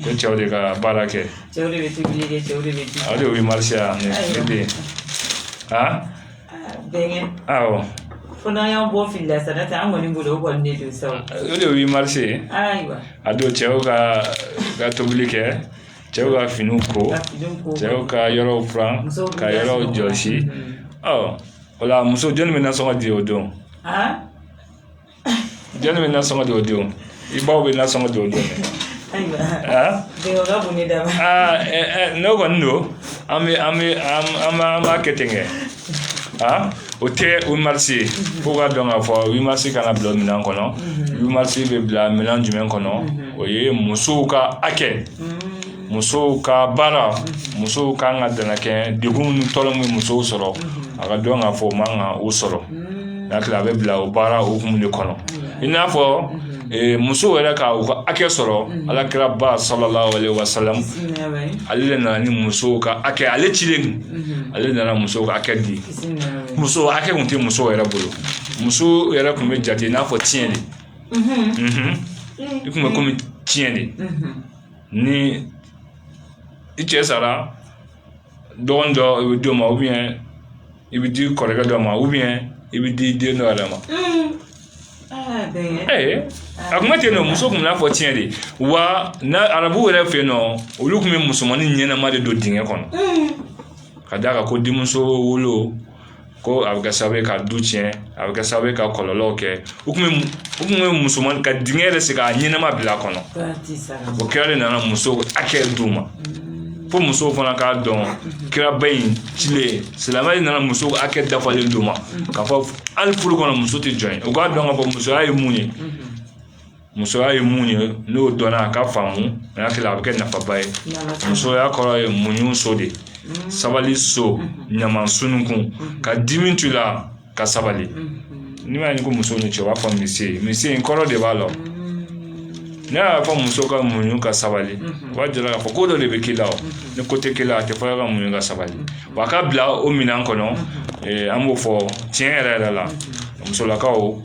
ko cɛw de ka baara kɛ o de ye wi marisi ye ne den aa fo n'an y'an bɔ fili la sa n'o tɛ an kɔni bolo o kɔni ne don sa o de ye wi marisi ye a don cɛw ka ka tobili kɛ cɛw ka finiw ko cɛw ka yɔrɔw furan ka yɔrɔw jɔsi ɔ wala muso jɔnni bɛ nasɔngɔ di o don jɔnni bɛ nasɔngɔ di o don i baw bɛ nasɔngɔ di o don n'o kɔni don an bɛ an bɛ an b'a an b'a kɛ ten kɛ aa o tɛ wi marisi ye fo k'a dɔn k'a fɔ wi marisi kana bila minɛn kɔnɔ wi marisi bɛ bila minɛn jumɛn kɔnɔ o ye musow ka hakɛ musow ka baara musow ka kan ka dɛmɛ kɛ degun ni tɔɔrɔ min musow sɔrɔ a ka dɔn k'a fɔ o man kan k'u sɔrɔ n'a tila a bɛ bila o baara hukumu de kɔnɔ i n'a fɔ musow yɛrɛ ka u ka hakɛ sɔrɔ ala kiraba salala wasalamu ale de nana ni musow ka hakɛ ale cilen ale nana musow ka hakɛ di muso hakɛ tun tɛ musow yɛrɛ bolo muso yɛrɛ tun bɛ jate i n'a fɔ tiɲɛ de i tun bɛ komi tiɲɛ de ni i cɛ sara dɔgɔnin dɔ i bɛ d'o ma o bɛ yen i bɛ di kɔrɔkɛ dɔ ma o bɛ yen i bɛ di den dɔ yɛrɛ ma a tun bɛ ten nɔ muso tun bɛ i n'a fɔ tiɲɛ de wa n'a arabuw yɛrɛ fɛ yen nɔ olu tun bɛ musomanin ɲɛnama de don dingɛ kɔnɔ ka d'a kan ko denmuso wolo ko a bɛ kɛ sababu ye ka du tiɲɛ a bɛ kɛ sababu ye ka kɔlɔlɔw kɛ u tun u tun bɛ musoman ka dingɛ yɛrɛ sen k'a ɲɛnama bila a kɔnɔ o kira de nana musow hakɛ d'u ma fo musow fana k'a dɔn kiraba in cilen silamɛ de nana musow hakɛ dafalen d'u ma k'a fɔ ali furu kɔnɔ muso tɛ jɔn ye u k'a dɔn k'a fɔ musoya ye mun ye musoya ye mun ye n'o dɔnna a ka faamuya a bɛ kɛ nafaba ye musoya kɔrɔ ye muɲuso de sabaliso ɲama sununkun ka dimi tu la ka sabali n'i ma ɲi ko muso ni cɛ b'a fɔ misi misi in kɔrɔ de b'a la n'i y'a fɔ muso ka muɲu ka sabali o b'a jira k'a fɔ ko dɔ de bɛ k'i la ni ko tɛ k'i la a tɛ fɔ ka muɲu ka sabali wa ka bila o minɛn kɔnɔ an b'o fɔ tiɲɛ yɛrɛ yɛrɛ la musolakaw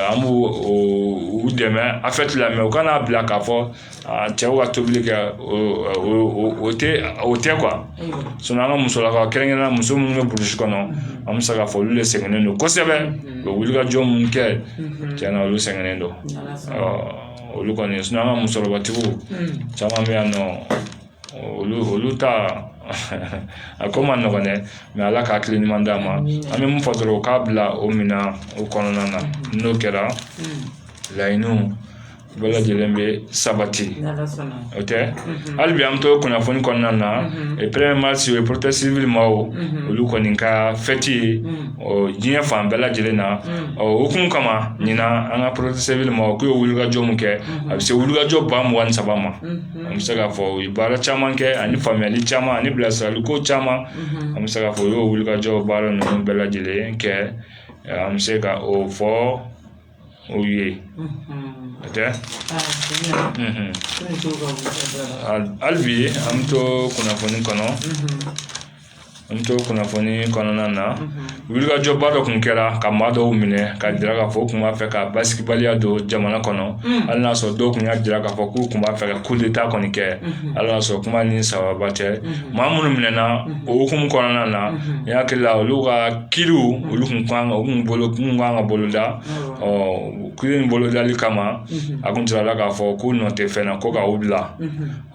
an b'u dɛmɛ a fɛ tila u kan'a bila k'a fɔ cɛw ka tobili kɛ o tɛ o tɛ an ka musolakaw kɛrɛnkɛrɛn muso minnu bɛ burusi kɔnɔ an bɛ se k'a fɔ olu de sɛgɛnnen don kosɛbɛ u wulikajɔ minnu kɛ cɛn na olu sɛgɛnnen don ɔ olu kɔni an ka musokɔrɔbatigiw caman bɛ yan nɔ olu olu ta a ko man nɔgɔn dɛ mɛ ala ka hakili ɲuman d'a ma an bɛ mun fɔ dɔrɔn u k'a bila o minɛn o kɔnɔna na n'o kɛra laɲiniw bɛɛ lajɛlen bɛ sabati o tɛ hali bi an bɛ to kunnafoni kɔnɔna na premier mars o ye protection civile maaw olu kɔni ka fɛti ye ɔ diɲɛ fan bɛɛ lajɛlen na o hukumu kama ɲinan an ka protection civile maaw u ye wulikajɔ min kɛ a bɛ se wulikajɔ ba mugan ni saba ma an bɛ se k'a fɔ u ye baara caman kɛ ani faamuyali caman ani bilasiraliko caman an bɛ se k'a fɔ u y'o wulikajɔw baara ninnu bɛɛ lajɛlen kɛ an bɛ se ka o fɔ o ye o tɛ hali bi an bɛ to kunnafoni kɔnɔ N to kunnafoni kɔnɔna na wulikajɔba dɔ tun kɛra ka maa dɔw minɛ ka jira k'a fɔ u tun b'a fɛ ka basibaliya don jamana kɔnɔ hali y'a sɔrɔ dɔw tun ka jira k'a fɔ k'u tun b'a fɛ ka coup d'état kɔni kɛ ala y'a sɔrɔ kuma ni sababa tɛ maa minnu minɛna o hukumu kɔnɔna na n hakili la olu ka kiiri olu tun kan u tun bolo kun kan ka boloda ɔ kiiri in bolodali kama a tun sɔrɔla k'a fɔ k'u nɔ tɛ fɛn na ko k'u bila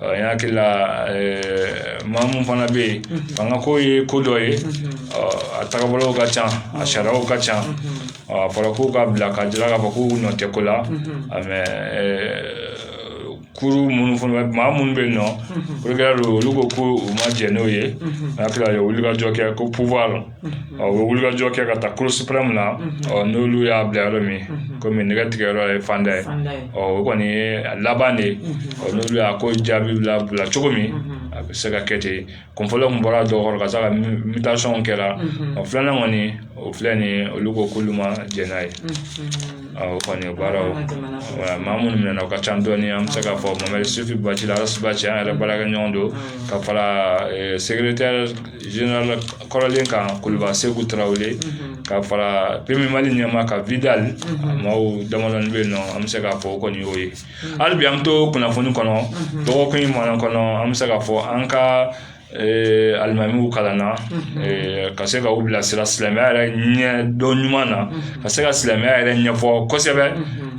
N hakili la maa minnu fana bɛ yen fangako ye ko dɔ ye a tagabolow ka ca a sariyaw ka ca a fɔra k'u ka bila ka jira k'a fɔ k'u nɔ tɛ ko la kuru minnu fana maa minnu bɛ yen nɔ olu ko ko u ma jɛn n'o ye a hakili la u ye wulikajɔ kɛ ko ɔ u bɛ wulikajɔ kɛ ka taa cour suprême na ɔ n'olu y'a bila yɔrɔ min kɔmi nɛgɛ tigɛ yɔrɔ ye fanda ye ɔ o kɔni ye a laban de ye ɔ n'olu y'a ko jaabi bila bila cogo min a bɛ se ka kɛ ten kun fɔlɔ min bɔra dɔw kɔrɔ ka se ka mitasɔnw kɛra ɔ filanan kɔni o filɛ nin ye olu ko k'olu ma jɛn n'a ye o kɔni baaraw maa minnu minɛ o ka ca dɔɔni an bɛ se k'a fɔ mamadu yusufu bacili arasibaci an yɛrɛ baarakɛɲɔgɔn don ka fara segeretɛri kɔrɔlen kan kuluba seku tarawele ka fara PMU mali ɲɛmaa kan wuli maaw damadɔɔni bɛ yen nɔ an bɛ se k'a fɔ o kɔni y'o ye hali bi an bɛ to kunnafoni kɔnɔ dɔgɔkun in mana kɔnɔ an bɛ se k'a fɔ an ka alimamiw kalanna ka se ka u bilasira silamɛya yɛrɛ ɲɛ dɔn ɲuman na ka se ka silamɛya yɛrɛ ɲɛfɔ kosɛbɛ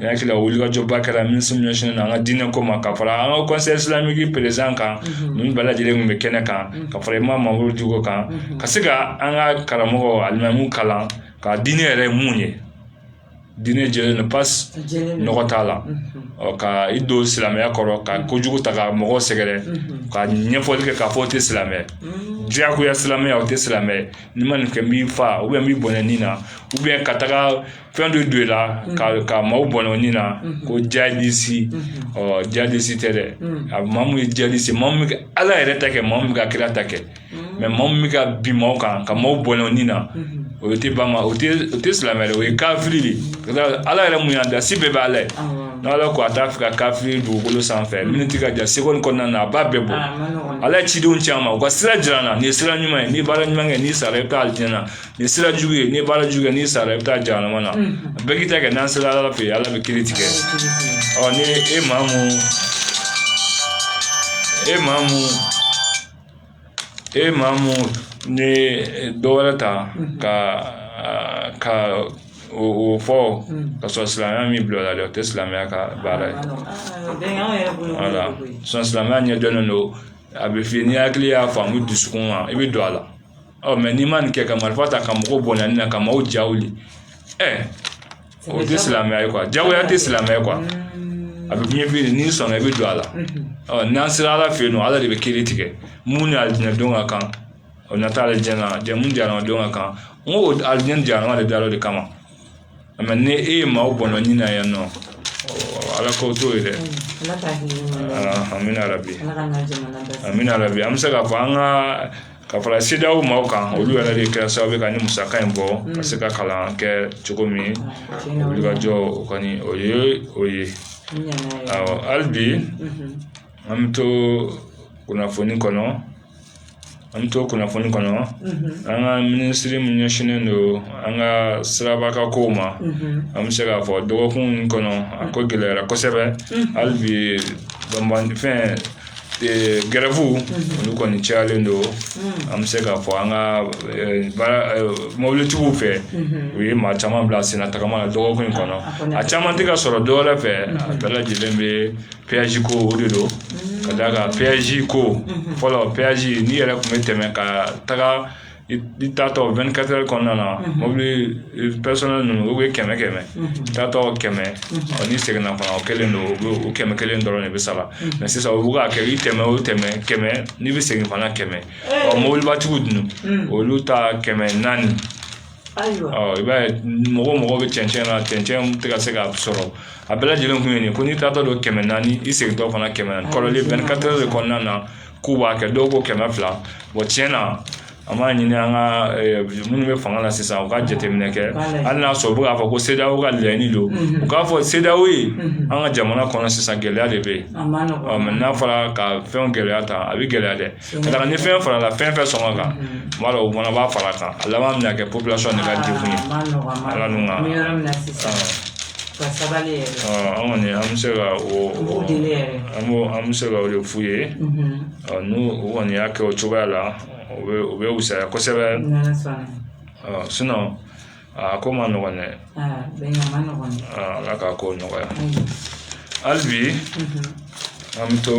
hakili wulikajɔba kɛra min ɲɛsinna an ka diinɛ ko ma ka fara an ka conseil islamique président kan ninnu bɛɛ lajɛlen tun bɛ kɛnɛ kan ka fara imamu mamudu diko kan ka se ka an ka karamɔgɔ alimamu kalan ka diinɛ yɛrɛ min ye diinɛ jɛlen don pasi nɔgɔ t'a la ka i don silamɛya kɔrɔ ka kojugu ta ka mɔgɔw sɛgɛrɛ ka ɲɛfɔli kɛ k'a fɔ o tɛ silamɛ diyagoya silamɛya o tɛ silamɛ n'i ma nin kɛ n b'i faa n b'i bɔnɛ ni na ka taga fɛn dɔ don i la ka ka maaw bɔnɛ u ni na ko jadisi ɔ jadisi tɛ dɛ a bɛ maa mun ye jadisi maa mun bɛ ka ala yɛrɛ ta kɛ maa mun bɛ ka kira ta kɛ mɛ maa mun bɛ ka bin maaw kan ka maaw bɔnɛ u ni na o tɛ ba ma o tɛ o tɛ silamɛ dɛ o ye kafiri de ye ala yɛrɛ mun y'an dan se bɛɛ bɛ ala ye n'ala ko a t'a fɛ ka kafiri dugukolo sanfɛ miniti ka jan sekɔndi kɔnɔna na a b'a bɛɛ bɔ ala ye cidenw ci an ma u ka sira jira an na nin ye sira ɲuman ye n'i baara ɲuman kɛ n'i sara i bɛ taa alijinɛ na nin sira jugu ye n'i baara jugu kɛ n'i sara i bɛ taa jahanama na bɛɛ k'i ta kɛ n'an sera ala fɛ yen ala bɛ kiri tigɛ ɔ ni e maa mun e maa mun e maa mun ni dɔ wɛrɛ ta ka ka o fɔ ka sɔrɔ silamɛya m'i bila a la dɛ o tɛ silamɛya ka baara ye walayi silamɛya ɲɛdɔnnen don a bɛ f'i ye n'i hakili y'a faamu dusukun ma i bɛ don a la ɔ mɛ n'i ma nin kɛ ka marifa ta ka mɔgɔw bɔnɛ u ni na ka maaw ja wuli ɛ o tɛ silamɛya ye kuwa jagoya tɛ silamɛya ye kuwa a bɛ f'i ye n'i sɔnna i bɛ don a la ɔ n'an sera ala fɛ yen nɔ ala de bɛ kiri tigɛ mun ni alijinɛ don ka kan o na taa alijinɛ na jahanama don ka kan n ko alijinɛ jahanama dara o de kama nka ni e ye maaw bɔnɛ u ni na yan nɔ ala ko t'o ye dɛ an bɛ hali bi an bɛ hali bi an bɛ se k'a fɔ an ka ka fara sedaw maaw kan olu yɛrɛ de kɛra sababu ye ka nin musaka in bɔ ka se ka kalan kɛ cogo min olu ka jɔ o kɔni o ye o ye hali bi an bɛ to kunnafoni kɔnɔ an bɛ to kunnafoni kɔnɔ an ka minisiri min ɲɛsinnen don an ka siraba kow ma an bɛ se k'a fɔ dɔgɔkun min kɔnɔ a ko gɛlɛyara kosɛbɛ hali bi banfɛn gɛrɛfuw olu kɔni cayalen don an bɛ se k'a fɔ an ka mobilitigiw fɛ u ye maa caman bila sen tagama dɔgɔkun in kɔnɔ a caman tɛ ka sɔrɔ dɔw fɛ a bɛɛ lajɛlen bɛ pɛyaji ko de don ka d'a kan pɛyaji ko fɔlɔ pɛyaji n'i yɛrɛ tun bɛ tɛmɛ ka taga i taatɔ wɛnikatɛri kɔnɔna na mobili pɛrisɔnɛli ninnu u bɛ kɛmɛ kɛmɛ taatɔ kɛmɛ n'i seginna fana o kelen don o kɛmɛ kelen dɔrɔn de bɛ sara mɛ sisan u bɛ k'a kɛ i tɛmɛ o tɛmɛ kɛmɛ n'i bɛ segin fana kɛmɛ ɔ mobilibatigiw dun olu ta kɛmɛ naani ayiwa ɔ i b'a ye mɔgɔ mɔgɔ bɛ cɛncɛn na cɛncɛn tɛ ka se ka sɔrɔ a bɛɛ lajɛlen kun ye nin ko n'i taatɔ don kɛmɛ naani i segintɔ fana kɛmɛ naani kɔrɔlen wɛnikatɛri de kɔnɔna na k'u b'a kɛ dɔw ko kɛmɛ fila wa tiɲɛ na an b'a ɲini an ka minnu bɛ fanga la sisan u ka jateminɛ kɛ hali n'a sɔrɔ u bɛ k'a fɔ ko sedaw ka laɲini don u k'a fɔ sedaw ye an ka jamana kɔnɔ sisan gɛlɛya de bɛ yen mɛ n'a fɔra ka fɛn gɛlɛya tan a bɛ gɛlɛya dɛ Ka d'a kan ni fɛn farala fɛn fɛn sɔngɔ kan n b'a dɔn o fana b'a fara a kan a laban bɛna kɛ population de ka degun ye ala n'u ka an kɔni an bɛ se ka o an b'o an bɛ se ka o de f'u ye n'u u kɔni y'a kɛ o cogoya la o bɛ o bɛ wusaya kosɛbɛ a ko man nɔgɔn dɛ ala k'a ko nɔgɔya hali bi an bɛ to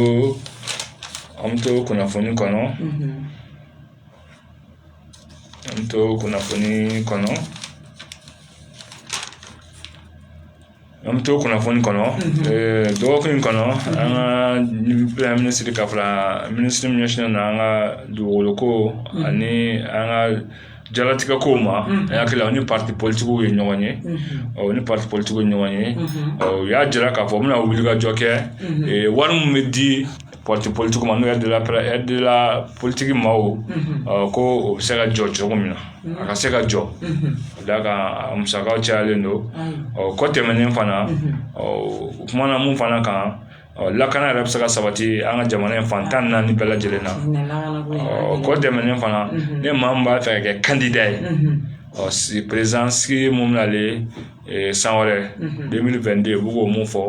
an bɛ to kunnafoni kɔnɔ an bɛ to kunnafoni kɔnɔ An bɛ to kunnafoni kɔnɔ dɔgɔkun in kɔnɔ an ka premier minisiri ka fara minisiri min ɲɛsinnen don an ka dugukolo ko ani an ka diɲɛlatigɛ kow ma an hakili la o ni parti politique ye ɲɔgɔn ye o ni parti politique ye ɲɔgɔn ye u y'a jira k'a fɔ u bɛna wulikajɔ kɛ wari min bɛ di parti politique ma n'o de la de la politique ma o ko o bɛ se ka jɔ cogo min na a ka se ka jɔ ka d'a kan a musaka cayalen don o kɔ tɛmɛnen fana u kumana min fana kan lakana yɛrɛ bɛ se ka sabati an ka jamana in fan tan ni naani bɛɛ lajɛlen na o kɔ tɛmɛnen fana ni maa b'a fɛ ka kɛ kandida ye ɔ si perezidansigi min nalen ee, san wɛrɛ 2022 u bɛ k'o mun fɔ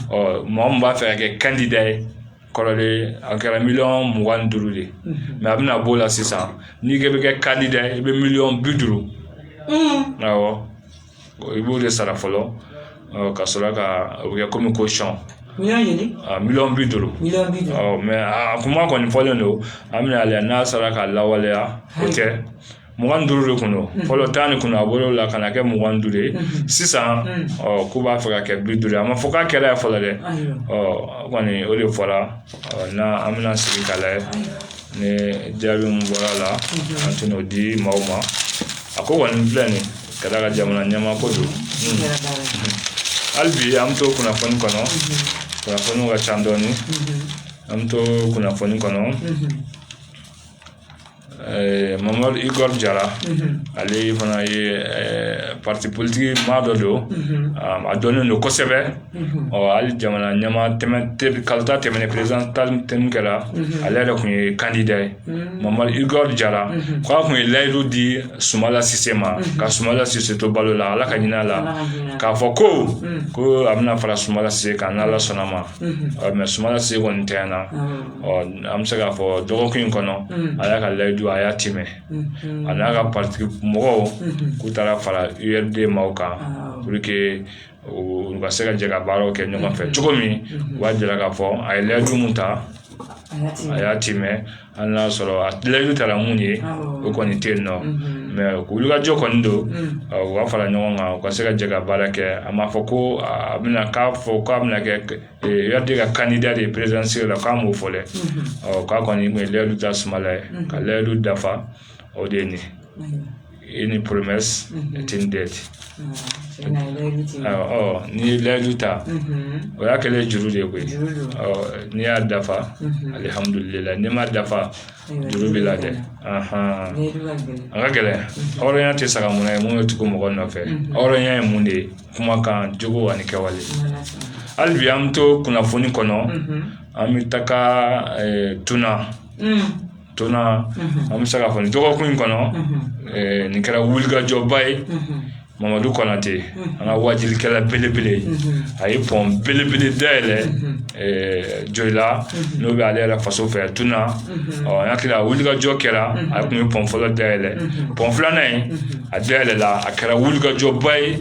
ɔ mɔgɔ min b'a fɛ ka kɛ kandida ye kɔrɔlen a kɛra miliyɔn mugan ni duuru de ye mɛ a bɛna b'o la sisan n'i k'i bɛ kɛ kandida ye i bɛ miliyɔn bi duuru awɔ Bon, i b'o de sara fɔlɔ ɔ, ka sɔrɔ ka o bɛ kɛ komi caution N'i y'a ɲini a miliyɔn bi duuru miliyɔn bi duuru ɔ mɛ a kuma kɔni fɔlen don an bɛna a lajɛ n'a sera ka lawaleya o tɛ mugan ni duuru de kun don fɔlɔ tan de kun a bɔla o la ka na kɛ mugan duuru ye sisan ɔ k'u b'a fɛ ka kɛ bi duuru ye a ma fɔ k'a kɛra fɔlɔ dɛ ɔ kɔni o de fɔra n'a an bɛna sigi ka lajɛ ni jaabi min bɔra la an tɛna o di maaw ma a ko kɔni filɛ nin ka d'a kan jamana ɲɛmaa ko don hali bi an bɛ to kunnafoni kɔnɔ kunnafoniw ka ca dɔɔni an bɛ to kunnafoni kɔnɔ mamadu igɔri jara ale fana ye parti politique maa dɔ don a dɔnnen don kosɛbɛ ɔ hali jamana ɲɛmaa kalata tɛmɛnen perezidan ta tɛmɛnen kɛra ale yɛrɛ tun ye kandida ye mamadu igɔri jara k' a tun ye layidu di sumala sise ma ka sumala sise to balo la ala ka hinɛ a la k'a fɔ ko ko a bɛna fara sumala sise kan n' ala sɔnna a ma mɛ sumala sise kɔni tɛ na ɔ an bɛ se k'a fɔ dɔgɔkun in kɔnɔ a y'a ka layidu a y'a tiimɛ a n'a ka pariti mɔgɔw k'u taara fara adema kan u ka se ka jɛ ka baaraw kɛ ɲɔgɔn fɛ cogo min u b'a jira k'a fɔ a ye layidu min ta a y'a tiimɛ hali n'a sɔrɔ a layidu tara mun ye o kɔni tɛ yen non mais wulikajɔ kɔni don u ka fara ɲɔgɔn kan u ka se ka jɛ ka baara kɛ a m'a fɔ ko a bɛna k'a fɔ k'a bɛna kɛ ya de ka candidat présidentielle la k'a m'o fɔ dɛ ɔ k'a kɔni tun ye layidu ta sumayila ye ka layidu dafa o de ye nin une promesse est une dette ɔ n'i ye layidu ta o y'a kɛlen juru de ye koyi ɔ n'i y'a dafa alihamudulila n'i m'a dafa juru b'i la dɛ a ka gɛlɛn hɔrɔnya tɛ saga mun ye mun bɛ tugu mɔgɔ nɔfɛ hɔrɔnya ye mun de ye kuma kan jogo ani kɛwale hali bi an bɛ to kunnafoni kɔnɔ an bɛ taga tuna tɔnna an bɛ se k'a fɔ nin dɔgɔkun in kɔnɔ nin kɛra wulikajɔba ye mamadu konate an ka waajulikɛla belebele a ye pɔn belebele da yɛlɛ joyila n'o bɛ ale yɛrɛ faso fɛ tun na ɔ hakili wulikajɔ kɛra a tun ye pɔn fɔlɔ da yɛlɛ pɔn filanan ye a da yɛlɛla a kɛra wulikajɔba ye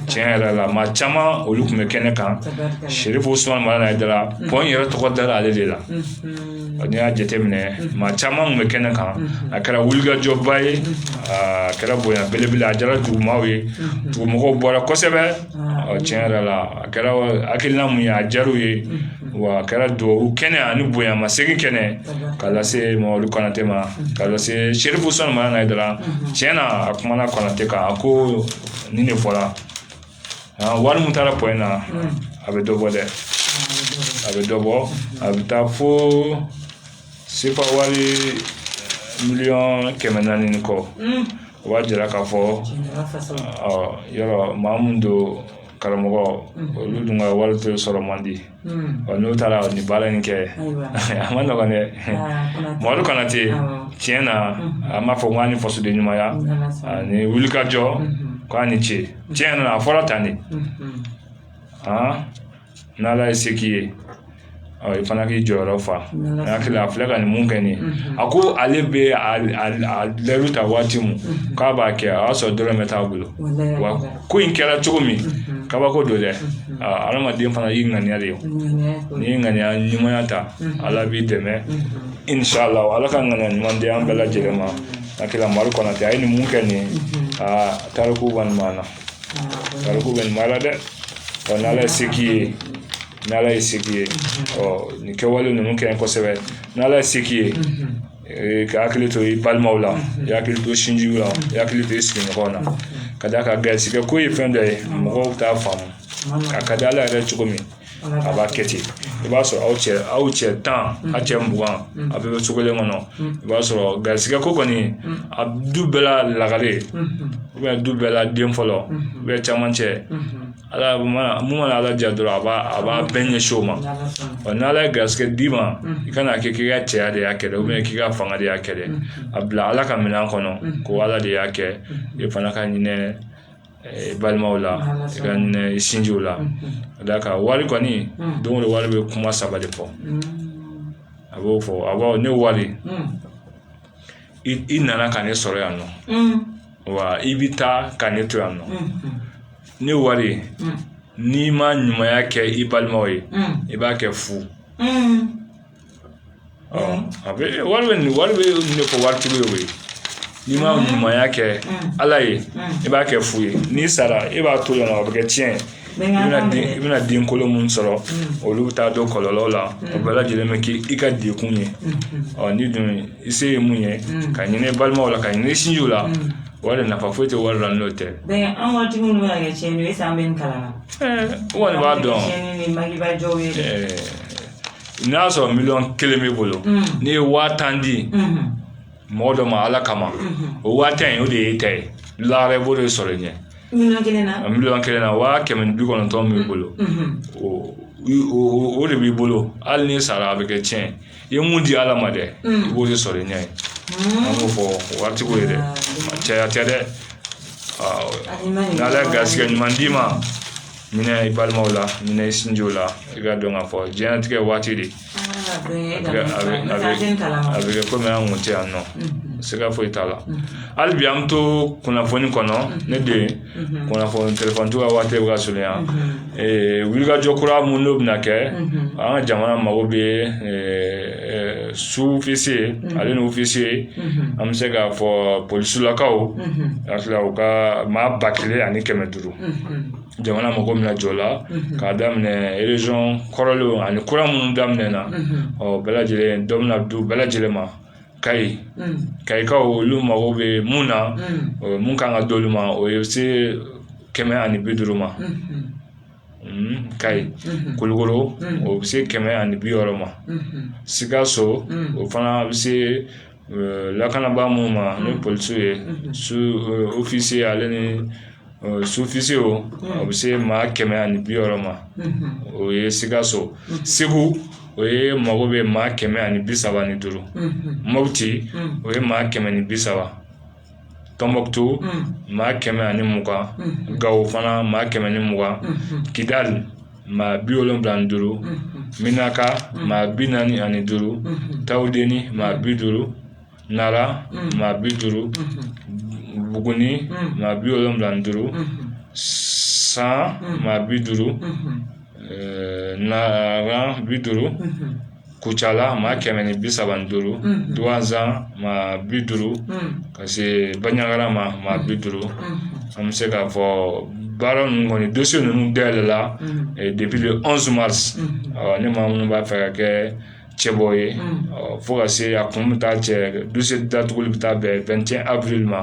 tiɲɛ yɛrɛ la maa caman olu tun bɛ kɛnɛ kan serifu usumani madani hayidara pɔn yɛrɛ tɔgɔ dara ale de la n'i y'a jateminɛ maa caman tun bɛ kɛnɛ kan a kɛra wulikajɔba ye a kɛra bonya belebele a diyara dugumaaw ye dugumɔgɔw bɔra kosɛbɛ ɔ tiɲɛ yɛrɛ la a kɛra hakilina mun ye a diyar'u ye wa a kɛra duwawu kɛnɛ ani bonyamasegin kɛnɛ ka lase mamadu konate ma ka lase serifu usumani madani hayidara tiɲɛ na a kumana konate kan a ko nin de fɔra wari mun taara pɔn in na a bɛ dɔ bɔ dɛ a bɛ dɔ bɔ a bɛ taa fo Sefa wari miliyɔn kɛmɛ naani ni kɔ o b'a jira k'a fɔ yɔrɔ maa min don karamɔgɔ olu dun ka wari tɛ sɔrɔ man di n'o taara nin baara in kɛ a man nɔgɔn dɛ mamadu konate tiɲɛ na an b'a fɔ k'a ni fasoden ɲumanya ani wulikajɔ k'a ni ce tiɲɛ na a fɔra tan de n' ala ye se k'i ye ɔ i fana k'i jɔyɔrɔ fa N'Ala sɔnna. hakili la a filɛ ka nin mun kɛ nin ye a ko ale bɛ a a- a layidu ta waati mun k'a b'a kɛ a y'a sɔrɔ dɔrɔmɛ t'a bolo Walayi a wa kɛra. ko in kɛra cogo min kabako don dɛ aa, adamaden fana y'i ŋaniya de ye Ŋaniya ko n'i ye ŋaniya ɲumanya ta ala b'i dɛmɛ inshallah ala ka ŋaniya ɲuman di an bɛɛ lajɛlen ma hakili la mamadu konate a ye nin mun kɛ nin ye aa tariku kɔni b'an na Tariku bɛ nin baara dɛ ɔ ni ala ye se k'i ye ni ala ye se k'i ye ɔ nin kɛwale ninnu kɛ kosɛbɛ ni ala ye se k'i ye ee, ka hakili to i balimaw la i hakili to sinjiw la i hakili to i sigiɲɔgɔnw na ka d'a kan garisigɛ ko ye fɛn dɔ ye mɔgɔw t'a faamu a ka di ala ye cogo min a b'a kɛ ten i b'a sɔrɔ aw cɛ aw cɛ tan a cɛ mugan a bɛɛ bɛ cogo kelen kɔnɔ i b'a sɔrɔ garisɛgɛ ko kɔni a du bɛɛ la lagare du bɛɛ la den fɔlɔ bɛɛ cɛmancɛ ala mana mun mana ala diya dɔrɔn a b'a a b'a bɛɛ ɲɛsin o ma ɔ n'ala ye garisɛgɛ d'i ma i kana kɛ k'i ka cɛya de y'a kɛ dɛ k'i ka fanga de y'a kɛ dɛ a bila ala ka minɛn kɔnɔ ko ala de y'a kɛ e fana ka hinɛ balimaw la sinjiw la ka d'a kan wari kɔni don o don wari bɛ kuma saba de fɔ a b'o fɔ a b'a fɔ ne wari i nana ka ne sɔrɔ yan nɔ wa i bɛ taa ka ne to yan nɔ ne wari n'i ma ɲumanya kɛ i balimaw ye i b'a kɛ fu a bɛ wari bɛ nin wari bɛ nin fɔ wari tigi ye n'i ma ɲumanya kɛ ala ye i b'a kɛ fu ye n'i sara e b'a to yen nɔ a bɛ kɛ tiɲɛ ye i bɛna den i bɛna den kolo minnu sɔrɔ olu bɛ taa don kɔlɔlɔw la o bɛɛ lajɛlen bɛ kɛ i ka degun ye ɔ ni dun i se ye mun ye ka hinɛ balimaw la ka hinɛ sinjiw la wari nafa foyi tɛ wari la n'o tɛ an ka tigi minnu bɛ kɛ tiɲɛni ye san bɛ kalan na kɔni b'a dɔn n'i y'a sɔrɔ miliyɔn kelen b'i bolo n'i ye waa tan di mɔgɔ dɔ ma ala kama o waa tan in o de y'i ta ye lahara i b'o de sɔrɔ i ɲɛ miliyɔn kelen na miliyɔn kelen na waa kɛmɛ ni bi kɔnɔntɔn b'i bolo o de b'i bolo hali n'i sara a bɛ kɛ tiɲɛ i ye mun di ala ma dɛ i b'o de sɔrɔ i ɲɛ yen an b'o fɔ waatiko ye dɛ cɛya tɛ dɛ n'ala ye garisɛgɛ ɲuman d'i ma hinɛ i balimaw la hinɛ i sinjiw la i k'a dɔn k'a fɔ diɲɛlatigɛ waati de a bɛ kɛ komi an kun tɛ yan nɔ siga foyi t'a la hali bi an bɛ to kunnafoni kɔnɔ ne den kunnafoni telefɔni ka waati bɛ ka surunya wulikajɔ kura minnu n'o bɛna kɛ an ka jamana mago bɛ sufisiye ani wofisiye an bɛ se k'a fɔ polisilakaw a u ka maa ba kelen ani kɛmɛ duuru jamana mago min na jɔ la k'a daminɛ région kɔrɔlen ani kura minnu daminɛna o bɛɛ lajɛlen dɔ bɛna d'u bɛɛ lajɛlen ma kayi kayikaw olu mago bɛ mun na mun ka kan ka d'olu ma o ye se kɛmɛ ani bi duuru ma kayi kulikɔrɔ o bɛ se kɛmɛ ani bi wɔɔrɔ ma sikaso o fana bɛ se lakanabaa minnu ma ni polisiw ye ofisiye ale ni sufisiyew a bɛ se maa kɛmɛ ani bi wɔɔrɔ ma o ye sikaso segu o ye mago bɛ maa kɛmɛ ani bi saba ni duuru moti o ye maa kɛmɛ ni bi saba tɔnbukutu maa kɛmɛ ani mugan gawo fana maa kɛmɛ ni mugan kidali maa bi wolonfila ni duuru menaka maa bi naani ani duuru tawudeni maa bi duuru nara maa bi duuru buguni maa bi wolonfila ni duuru san maa bi duuru na bi duuru kucala maa kɛmɛ ni bi saba ni duuru duwansa maa bi duuru ka se banyagara ma maa bi duuru an bɛ se k'a fɔ baara ninnu kɔni dosiye ninnu dayɛlɛla depuis le premier mars ni maa minnu b'a fɛ ka kɛ cɛbɔ ye fo ka se a kun bɛ taa cɛ dosiye datuguli bɛ taa bɛn vingt et un avril ma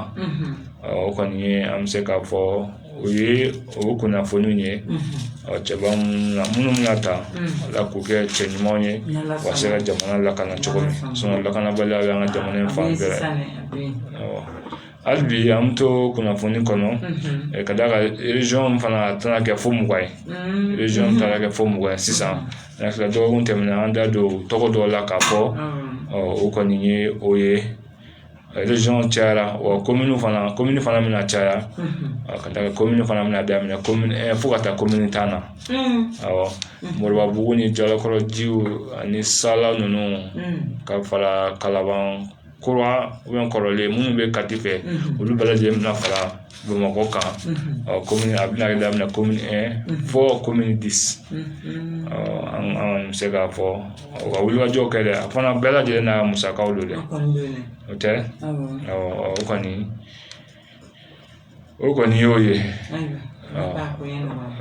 o kɔni an bɛ se k'a fɔ o ye o kunnafoni ye cɛ minnu ka taa ala k'u kɛ cɛ ɲuman ye ka se ka jamana lakana cogo min lakanabaliya y'an ka jamana fan bɛɛ hali bi an bɛ to kunnafoni kɔnɔ ka da rezɔn fana tɛna kɛ fo mugan ye rezɔn taara kɛ fo mugan ye sisan dɔgɔkun tɛmɛnen an da don tɔgɔ dɔw la ka fɔ o kɔni ye o ye cayara wa komini fana komini fana bɛna caya ka taa komini fana bɛna daminɛ ko fo ka taa komini tan na awɔ moribabugu ni jalakɔrɔjiw ani sala ninnu ka fara kalaban kura kɔrɔlen minnu bɛ kati fɛ olu bɛɛ lajɛlen bɛna fara Bamakɔ kan kɔmi a bɛna kɛ daminɛ komini un fo komini dix an bɛ se k'a fɔ ka wulikajɔ kɛ dɛ a fana bɛɛ lajɛlen n'a musakaw don dɛ o tɛ o kɔni o kɔni y'o ye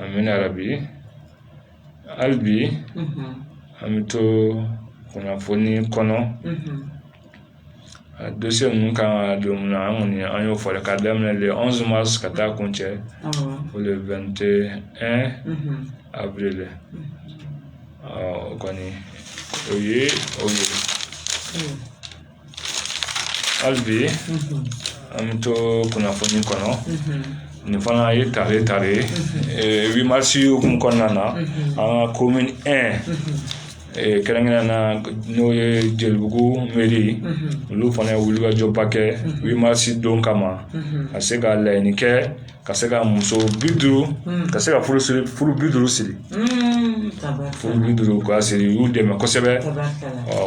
an bɛna yɛrɛ bi hali bi an bɛ to kunnafoni kɔnɔ Dosiye ninnu kan ka don min na an kɔni an y'o fɔ ka daminɛ le premier mars ka taa kuncɛ le vingt et un avril o kɔni o ye o ye hali bi an bɛ to kunnafoni kɔnɔ nin fana ye taare taare huit mars kunbɛn kɔnɔna na an ka komini kɛrɛnkɛrɛn na n'o ye jelibugu mɛri ye olu fana ye wulikajɔba kɛ u ye masi don kama ka se ka laɲini kɛ ka se ka muso bi duuru ka se ka furu bi duuru siri furu bi duuru ka siri y'u dɛmɛ kosɛbɛ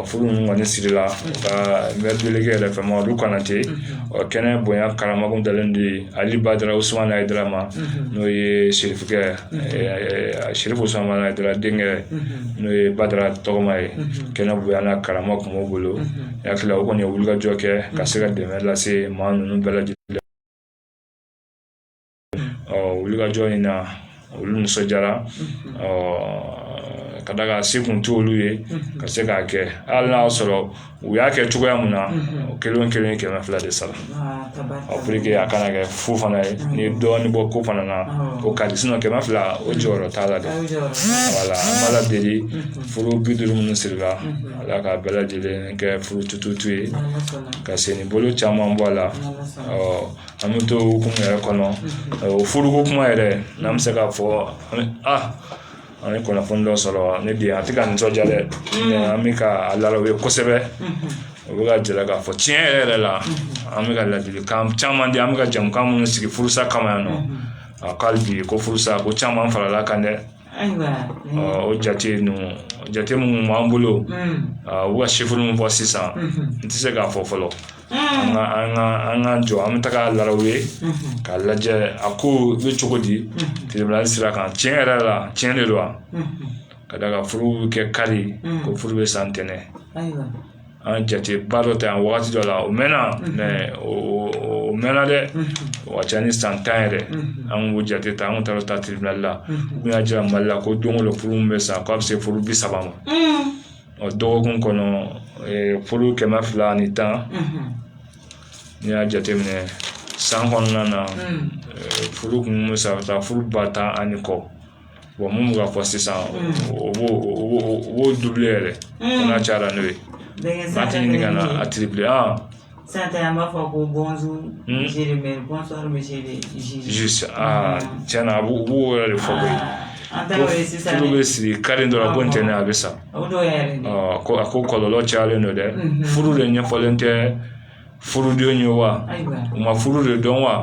furu ninnu kɔni siri la ka mɛtilikɛ yɛrɛ fɛ ma olu kana ten ɔ kɛnɛ bonya karama kun dalen de ye ali badara usumana hayidara ma n'o ye sirifukɛ Sirifu usumana hayidara denkɛ n'o ye badara tɔgɔma ye kɛnɛ bonya ni karama tun b'o bolo hakili o kɔni ye wulikajɔ kɛ ka se ka dɛmɛ lase maa ninnu bɛɛ lajɛlen ɔ wulikajɔ in na olu nisɔndiyara ɔ ka d'a kan se tun t'olu ye ka se k'a kɛ hali n'a y'a sɔrɔ u y'a kɛ cogoya min na o kelen kelen kɛmɛ fila de sara a kana kɛ fu fana ye n'i ye dɔɔnin bɔ ko fana na o ka di kɛmɛ fila o jɔyɔrɔ t'a la dɛ wala an b'ala deli furu bi duuru minnu sirila ala ka bɛɛ lajɛlen kɛ furu tututu ye ka sen ni bolo caman bɔ a la an bɛ to kuma yɛrɛ kɔnɔ o furuko kuma yɛrɛ n'an bɛ se k'a fɔ an an ye kunnafoni dɔ sɔrɔ ne di a tɛ ka nisɔndiya dɛ mm. an bɛ ka a lalaw ye kosɛbɛ mm-hmm. o bɛ k'a jira k'a fɔ tiɲɛ yɛrɛ yɛrɛ la mm-hmm. an bɛ ka ladilikan caman di an bɛ ka jɛmukan minnu sigi furusa kama yan nɔ mm-hmm. a kɛlen b'i ko furusa ko caman farala a kan dɛ o jate ninnu jate minnu b'an bolo mm. u bɛ ka chiffre min fɔ sisan n tɛ se k'a fɔ fɔlɔ an ka an ka an ka jɔ an bɛ taga laraw ye k'a lajɛ a ko bɛ cogo di tribunal sira kan tiɲɛ yɛrɛ la tiɲɛ de don wa ka d'a kan furu bɛ kɛ kari ko furu bɛ sa ntɛnɛn an ye jateba dɔ ta yan wagati dɔ la o mɛnna mɛ o o mɛnna dɛ o ka ca ni san tan yɛrɛ an k'o jate ta an kun taara taa tribunal la u y'a jira mali la ko don o don furu min bɛ sa k'a bɛ se furu bi saba ma ɔ dɔgɔkun kɔnɔ furu kɛmɛ fila ni tan n'i y'a jateminɛ san kɔnɔna na furu kun bɛ sa ka taa furu ba tan ani kɔ bon minnu bɛ ka fɔ sisan o b'o o b'o double yɛrɛ n'a cayara n'o ye n'a tɛ ɲininka a triple Sisan ta an b'a fɔ ko bonjour monsieur le maire bonsoir monsieur le juge aa cɛn na a b'o b'o yɛrɛ de fɔ koyi an ta ye sisan n'u bɛ sigi kari don na ko ntɛnɛn a bɛ sa ko a ko kɔlɔlɔ cayalen don dɛ furu de ɲɛfɔlen tɛ furuden ye wa u ma furu de dɔn wa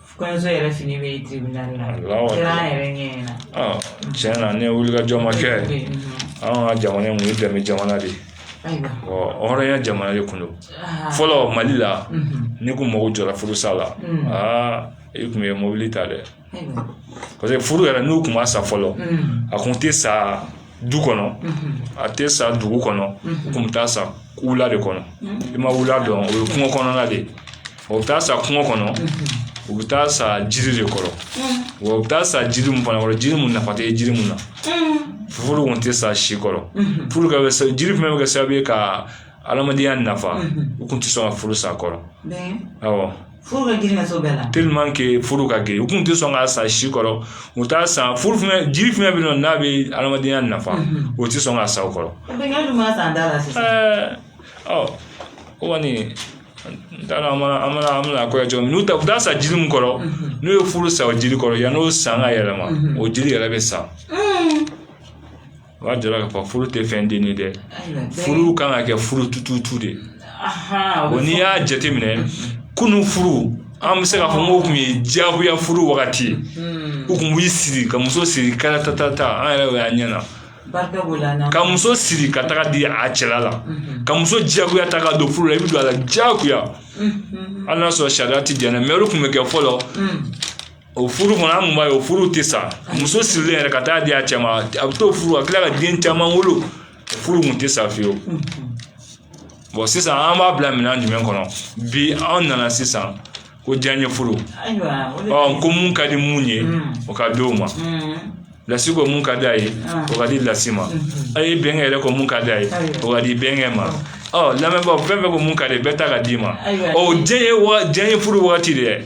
kɔɲɔso yɛrɛ fini bɛ tribunal la kɛra an yɛrɛ ɲɛ ɲɛna tiɲɛ na ni wulikajɔ ma kɛ an ka jamana in kun ye dɛmɛ jamana de ye hɔrɔnya jamana de kun don fɔlɔ mali la n'i kun mago jɔra furusa la aa i kun ye mobili ta dɛ parce que furu yɛrɛ n'u kun ma sa fɔlɔ a kun tɛ sa du kɔnɔ a tɛ sa dugu kɔnɔ tun bɛ taa sa wula de kɔnɔ i ma wula dɔn o ye kungo kɔnɔna de ye o bɛ taa sa kungo kɔnɔ u bɛ taa sa jiri de kɔrɔ wa u bɛ taa sa jiri mun fana kɔrɔ jiri mun nafa tɛ jiri mun na furu kun tɛ sa si kɔrɔ furu ka bɛ sa jiri fana bɛ kɛ sababu ye ka adamadenya nafa u kun tɛ sɔn ka furu sa o kɔrɔ awɔ furu ka girin ka s'o bɛɛ la furu ka girin u kun tɛ sɔn k'a sa si kɔrɔ u t'a sa furu fɛnɛ jiri fɛnɛ bɛ yen nɔ n'a bɛ adamadenya nafa o tɛ sɔn k'a sa o kɔrɔ ɔ o kɔni n t'a dɔn an mana an mana an bɛna kɔɲɔ cogo min n'u ta u t'a sa jiri min kɔrɔ n'u ye furu sa o jiri kɔrɔ yann'o san ka yɛlɛma o jiri yɛrɛ bɛ sa o b'a jira k'a fɔ furu tɛ fɛn den ye dɛ furu kan ka kɛ furu tututu de ye o n'i y'a jateminɛ kunun furu an bɛ se k'a fɔ n'o tun ye diyagoya furu wagati ye u tun b'i sigi ka muso siri karata ta ta an yɛrɛ ɲɛ na ka muso siri ka taga di a cɛla la ka muso diyagoya ta ka don furu la i bɛ don a la diyagoya hali n'a sɔrɔ sariya tɛ diɲɛ na mɛ olu tun bɛ kɛ fɔlɔ O furu fana an b'a ye o furu tɛ sa muso sirilen yɛrɛ ka taa di a cɛ ma a bɛ to furu la tila ka den caman wolo furu tun tɛ sa fiyewu bɔn sisan an b'a bila minɛn jumɛn kɔnɔ bi an nana sisan ko diyanye furu ɔ ko mun ka di mun ye o ka di o ma lasi ko mun ka di a ye o ka di lasi ma a ye bɛnkɛ yɛrɛ ko mun ka di a ye o ka di bɛnkɛ ma ɔ lamɛnbɔ fɛn bɛ ko mun ka di bɛɛ ta ka d'i ma ɔ diyanye diyanye furu waati de ye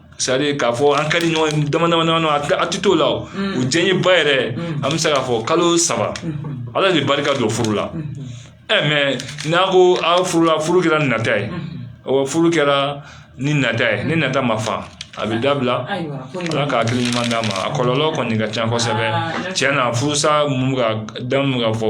sari k'a fɔ an ka di ɲɔgɔn ye dama dama dama a tɛ t'o la o u diɲɛ ba yɛrɛ an bɛ se k'a fɔ kalo saba ala bɛ barika don furu la ɛ mɛ n'a ko aw furu la furu kɛra nata ye wa furu kɛra ni nata ye ni nata ma fa a bɛ dabila ala ka hakili ɲuman d'an ma a kɔlɔlɔ kɔni ka ca kosɛbɛ tiɲɛ na furusa mun ka da mun ka fɔ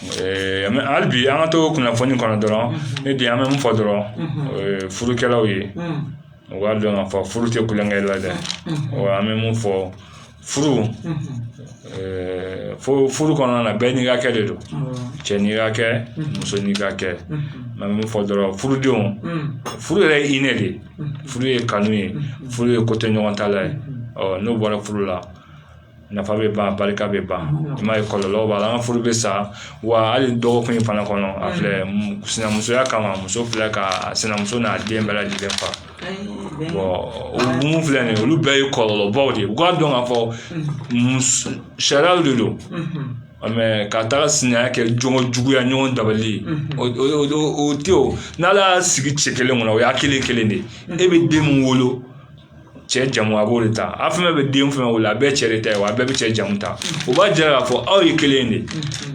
hali bi an ka to kunnafoni kɔnɔ dɔrɔn ne bi an bɛ mun fɔ dɔrɔn furukɛlaw ye u b'a dɔn ka fɔ furu tɛ tulonkɛ la dɛ an bɛ mun fɔ furu fo furu kɔnɔna na bɛɛ n'i hakɛ de don cɛ n'i hakɛ muso n'i hakɛ n bɛ min fɔ dɔrɔn furudenw furu yɛrɛ ye hinɛ de ye furu ye kanu ye furu ye kotoɲɔgɔntala ye n'o bɔra furu la nafa bɛ ban barika bɛ ban i m'a ye kɔlɔlɔ b'a la an ka furu bɛ sa wa hali dɔgɔkun in fana kɔnɔ a filɛ sinamusoya kama muso filɛ ka sinamuso n'a den bɛɛ lajɛlen fa mun filɛ nin ye olu bɛɛ ye kɔlɔlɔbaw de ye u k'a dɔn k'a fɔ sariyaw de don mɛ ka taga sinaya kɛ jogo juguya ɲɔgɔn dabali o tɛ o n'ala y'a sigi cɛ kelen kɔnɔ o y'a kelen kelen de e bɛ den min wolo cɛ jamu a b'o de ta a fɛn fɛn bɛ den fɛn wolo a bɛɛ cɛ de ta ye wa a bɛɛ bɛ cɛ jamu ta o b'a jira k'a fɔ aw ye kelen de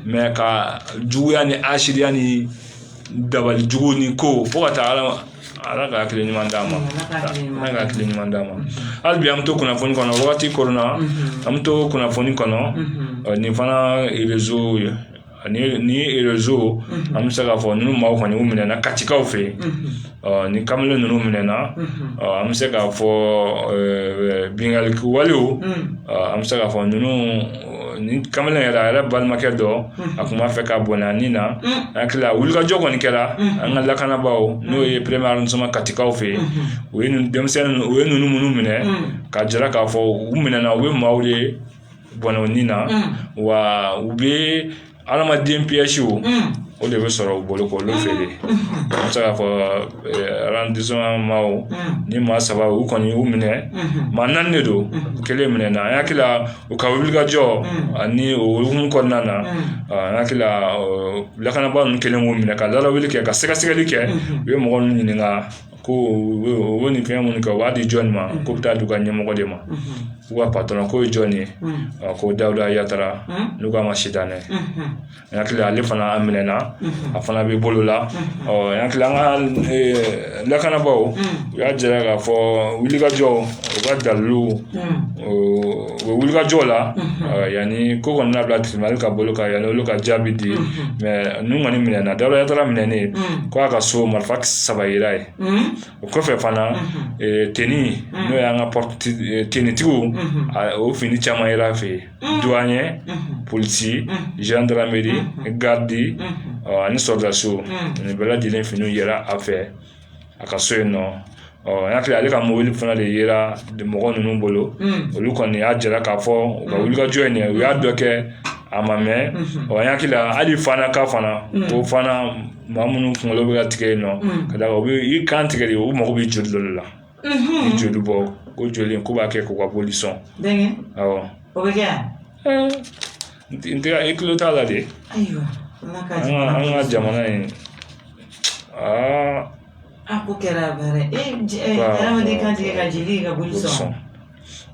mɛ ka juguya ni hasidiya ni dabali jugu ni ko fo ka taa ala ala ka hakili ɲuman d'a ma ala ka hakili ɲuman d'a ma hali bi an bɛ to kunnafoni kɔnɔ wagati kɔnɔna an bɛ to kunnafoni kɔnɔ nin fana rezo ye ani nin ye rezo an bɛ se k'a fɔ ninnu maaw kɔni minɛna katikaw fɛ yen ni kamalen ninnu minɛna an bɛ se k'a fɔ binkaliwale an bɛ se k'a fɔ ninnu ni kamalen yɛrɛ a yɛrɛ balimakɛ dɔ a tun b'a fɛ ka bɔnɛ ni na an hakili wulikajɔ kɔni kɛra an ka lakanabaa n'o ye peremiye arɔndisiman katikaw fɛ yen u ye denmisɛnnin u ye ninnu minnu minɛ ka jira k'a fɔ u minɛna u ye maaw ye bɔnɛ o ni na wa u bɛ adamaden piyɛsiw o de bɛ sɔrɔ u bolo k'olu feere an bɛ se k'a fɔ arɔndisiman maaw ni maa saba u kɔni y'u minɛ maa naani de don u kelen minɛna an hakili u ka wulikajɔ ani o hukumu kɔnɔna na an hakili lakanabaa ninnu kɛlen k'u minɛ ka lawuli kɛ ka sɛgɛsɛgɛli kɛ u ye mɔgɔ ninnu ɲininka ko u bɛ nin fɛn minnu kɛ u b'a di jɔn ma k'u bɛ taa di u ka ɲɛmɔgɔ de ma u ka patɔrɔn k'o ye jɔn ye a ko dawuda yatara n'u k'a ma sitanɛ n hakili ale fana a minɛna a fana bɛ bolo la ɔ n hakili an ka lakanabaaw u y'a jira k'a fɔ wulikajɔ u ka dalilu u bɛ wuli ka jɔ o la yanni ko kɔni labila teliman ka bolo ka yɛlɛ olu ka jaabi di mɛ n'u kɔni minɛna dawuda yatara minɛnen ye ko a ka so marifa saba yera yen o kɔfɛ fana teni n'o y'an ka tenitigiw o fini caman yera a fɛ yen du an ye polisi zandarameri garidi ani sɔrɔdaso ani bɛɛ lajɛlen finiw yera a fɛ a ka so yen nɔ ɔ n hakili ale ka mobili fana de yera mɔgɔ ninnu bolo olu kɔni y'a jira k'a fɔ u ka wulikajɔ in u y'a dɔ kɛ a ma mɛn ɔ n hakili hali fana ka fana ko fana maa minnu kunkolo bɛ ka tigɛ yen nɔ ka da u b'i kan tigɛ de u mago bɛ joli dɔ la joli bɔ ko joli k'u b'a kɛ k'u ka boli sɔn n tɛ i tulo t'a la dɛ ayiwa ala ka an ka an ka jamana in aa a ko kɛra baara ye e j- e, Waaw, hadamaden waaw, kantigɛ ka jeli ka boli sɔn sɔn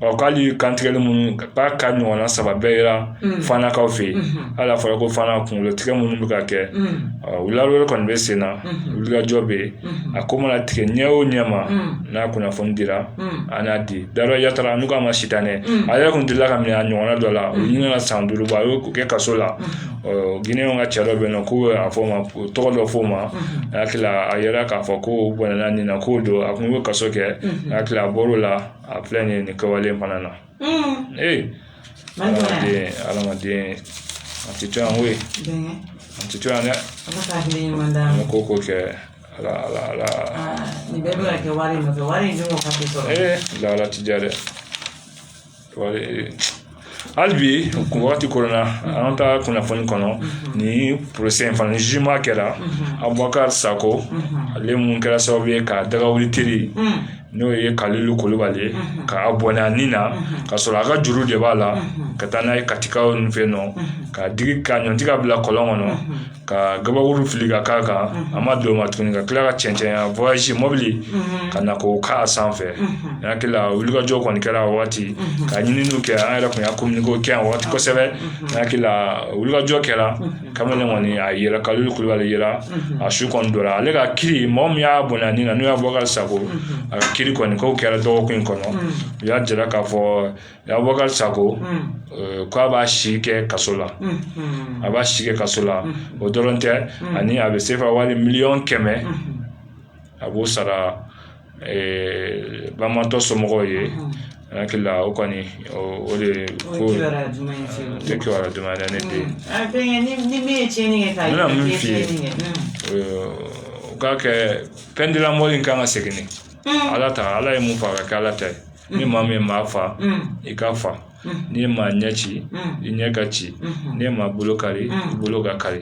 ɔ k'ale kantigɛli minnu k'a ka ɲɔgɔnna saba bɛɛ yera Mm. fanakaw fɛ yen Mhm. hali a fɔra ko fana kunkolo tigɛ minnu bɛ ka kɛ Mm, ɔ wulawere kɔni bɛ sen na Mhm. wulikajɔ bɛ yen Mhm. a ko mana tigɛ ɲɛ o ɲɛ ma Mm. n'a kunnafoni dira an y'a di da dɔ yatara n'u k'a ma si dan dɛ a yɛrɛ kun delila ka minɛ a ɲɔgɔnna dɔ la u ɲinɛna ka san duuru bɔ a y'o kɛ kaso la giniyɛnw ka cɛ dɔ bɛ yen nɔ ko a fɔ o ma tɔgɔ dɔ fɔ o ma a hakili a yɛrɛ k'a fɔ ko bana nin na k'o don a kun bɛ kaso kɛ a hakili a bɔr'o la a filɛ nin nin kɛwale in fana na ee adamaden adamaden a tɛ to yan koyi a tɛ to yan dɛ ko ko kɛ ala ala ala nin bɛɛ bɛ ka kɛ wari in nɔfɛ wari in dun ka teli sɔrɔ ee lala ti diya dɛ wari hali bi kun wagati kɔnɔna an ka kunnafoni kɔnɔ ni porosɛ in fana zima kɛra abubakar sako ale mun kɛra sababu ye ka daga wuli teri n'o ye kalilu kulubali ye ka a bɔnɛ a ni na ka sɔrɔ a ka juru de b'a la ka taa n'a ye katikaw ni fɛ nɔ k'a digi k'a ɲɔnti k'a bila kɔlɔn kɔnɔ ka gabakuru fili ka k'a kan a ma dan o ma tuguni ka kila ka cɛncɛn mɔbili ka na k'o k'a sanfɛ n hakili la wulikajɔ kɔni kɛra a waati ka ɲininiw kɛ an yɛrɛ kun y'a kominike kɛ yan waati kosɛbɛ n hakili la wulikajɔ kɛra kamalen kɔni a yɛrɛ kalilu kulubali yera a su kɔni bɔra ale ka kiri mɔgɔ min y'a bɔnɛ a ni na n'o ye abubakar sako a ka kiri kɔni k'o kɛra dɔgɔkun in kɔnɔ u y'a jira k'a fɔ Abubakari Sako k'a b'a si kɛ kaso la a b'a si kɛ kaso la o dɔrɔn tɛ ani a bɛ sefa wari miliyɔn kɛmɛ a b'o sara banbaatɔ somɔgɔw ye n hakili la o kɔni o de ye ko tɛ kiba dama yɛrɛ ne den min f'i ye u k'a kɛ peine de la mort in kan ka segin ala ta ala ye mun fɔ a ka kɛ ala ta ye ni maa min maa fa i ka fa n'i ye maa ɲɛ ci i ɲɛ ka ci n'i ye maa bolo kari i bolo ka kari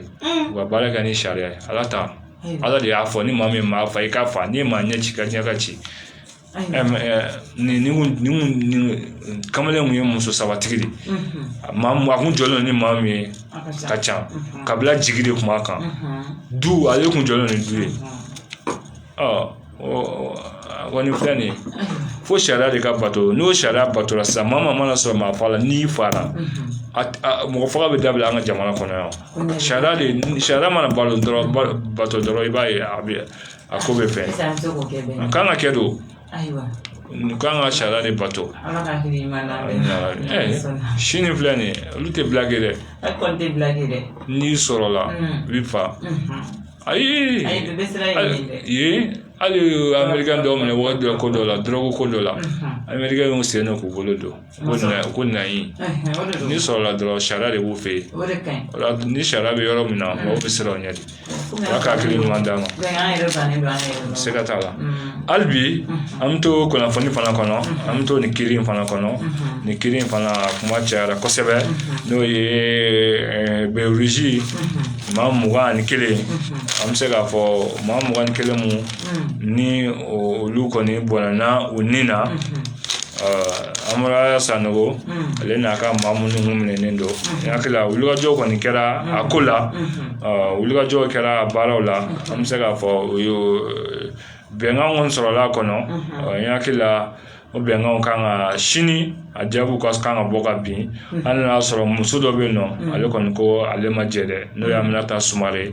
u ka baara kɛ ni sariya ye ala ta ala de y'a fɔ ni maa min maa fa i ka fa n'i ye maa ɲɛ ci i ɲɛ ka ci nin kamalen kun ye muso sabatigi de maa a kun jɔlen ni maa min ye ka ca kabila jigi de kun b'a kan du ale kun jɔlen ni du ye a kɔni filɛ nin ye fo sariya de ka bato ni sariya batora sisan maa maa mana sɔrɔ maa fa la n'i fara mɔgɔ faga bɛ dabila an ka jamana kɔnɔ yan sariya de sariya mana balo dɔrɔn bato dɔrɔn i b'a ye a bɛ a ko bɛ fɛn a kan ka kɛ don an kan ka sariya de bato sini filɛ nin ye olu tɛ blague kɛ dɛ n'i sɔrɔla i bɛ fa ayi u ye hali amerikɛn dɔw minɛ wagati dɔ ko dɔ la dɔrɔgu ko dɔ la amerikɛn y'u sen don k'u bolo don ko ayi n'i sɔrɔla dɔrɔn sariya de b'u fɛ yen ni sariya bɛ yɔrɔ min na mɔgɔw bɛ siran o ɲɛ de ala ka hakili ɲuman d'an ma se ka t'a la hali bi an bɛ to kunnafoni fana kɔnɔ an bɛ to nin kiri in fana kɔnɔ nin kiri in fana kuma cayara kosɛbɛ n'o ye eh, bɛrɛ ruzi maa mugan ani kelen an bɛ se k'a fɔ maa mugan ni kelen minnu olu kɔni bɔnɛna u ni na amadu aya sanogo ale n'a ka maa minnu kun minɛnen don n hakili la wulikajɔ kɔni kɛra a ko la wulikajɔ kɛra a baaraw la an bɛ se k'a fɔ o ye bɛnkan kɔni sɔrɔla a kɔnɔ n hakili la o bɛnkanw kan ka sini a jaabiw ka kan ka bɔ ka bin hali n'a y'a sɔrɔ muso dɔ bɛ yen nɔ ale kɔni ko ale ma jɛ dɛ n'o ye aminata sumare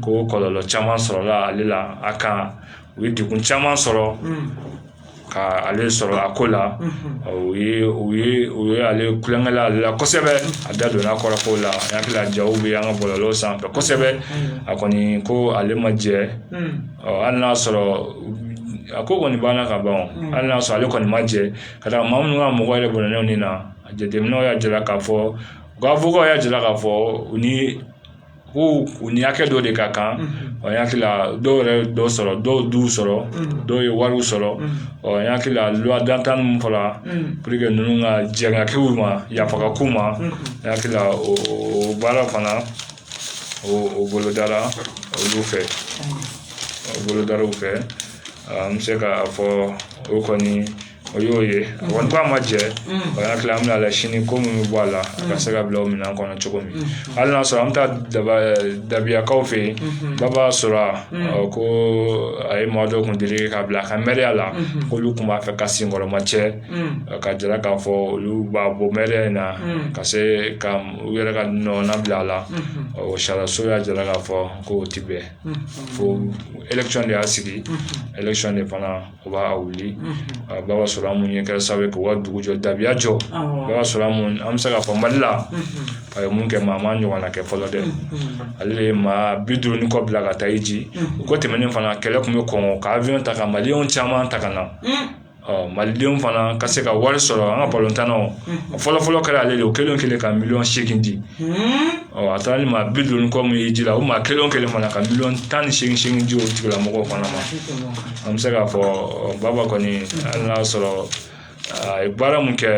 ko kɔlɔlɔ caman sɔrɔla ale la a kan u ye degun caman sɔrɔ ka ale sɔrɔ a ko la u ye ale ko kɛra ale la kosɛbɛ a da donna kɔrɔ ko la n hakili la ja bɛ an ka bɔlɔlɔ sanfɛ kosɛbɛ a kɔni ko ale ma jɛ hali n'a sɔrɔ a ko kɔni banna ka ban hali n'a sɔrɔ ale kɔni ma jɛ ka taa maa minnu ka mɔgɔ yɛrɛ bɔnɛna u ni na jateminɛw y'a jira k'a fɔ awokaw y'a jira k'a fɔ u ni ko u ni hakɛ dɔ de ka kan ɔ n hakili la dɔw yɛrɛ dɔ sɔrɔ dɔw du sɔrɔ dɔw ye wariw sɔrɔ ɔ n hakili la loi d'entente min fɔra pour que ninnu ka jɛn ka k'u ma yafa ka k'u ma n hakili la o baara fana o o bolodara olu fɛ o bolodaraw fɛ n bɛ se k'a fɔ o kɔni o y'o ye a kɔni ko a ma jɛ ɔ n hakili la an bɛna la sini ko min bɛ bɔ a la a ka se ka bila o minɛn kɔnɔ cogo min hali n'a sɔrɔ an bɛ taa daba dabiyakaw fɛ yen baba sora ko a ye maa dɔ kun deli k'a bila a ka mɛriya la k'olu tun b'a fɛ k'a senkɔrɔmacɛ k'a jira k'a fɔ olu b'a bɔ mɛriya in na ka se ka u yɛrɛ ka mɔgɔ bila a la o sariyaso y'a jira k'a fɔ ko o ti bɛn wote y'a sigi de fana u b'a wuli baba sora an min ye kɛra sababu ye k'u ka dugu jɔ dabiya jɔ o y'a sɔrɔ an an bɛ se k'a fɔ mali la a ye min kɛ maa m'a ɲɔgɔnna kɛ fɔlɔ dɛ ale de ye maa bi duuru ni kɔ bila ka taa hiji u ko tɛmɛnen fana k'ale tun bɛ kɔn ka awiyɔn ta ka mali caman ta ka na malidenw fana ka se ka wari sɔrɔ an ka balontan o fɔlɔfɔlɔ kɛra ale de o kelen kelen ka miliyɔn segin di ɔ a taara ni maa bi duuru kɔ min ye hiji la o maa kelen kelen fana ka miliyɔn tan ni segin di o tigilamɔgɔw fana ma an bɛ se k'a fɔ baba kɔni hali n'a sɔrɔ a ye baara min kɛ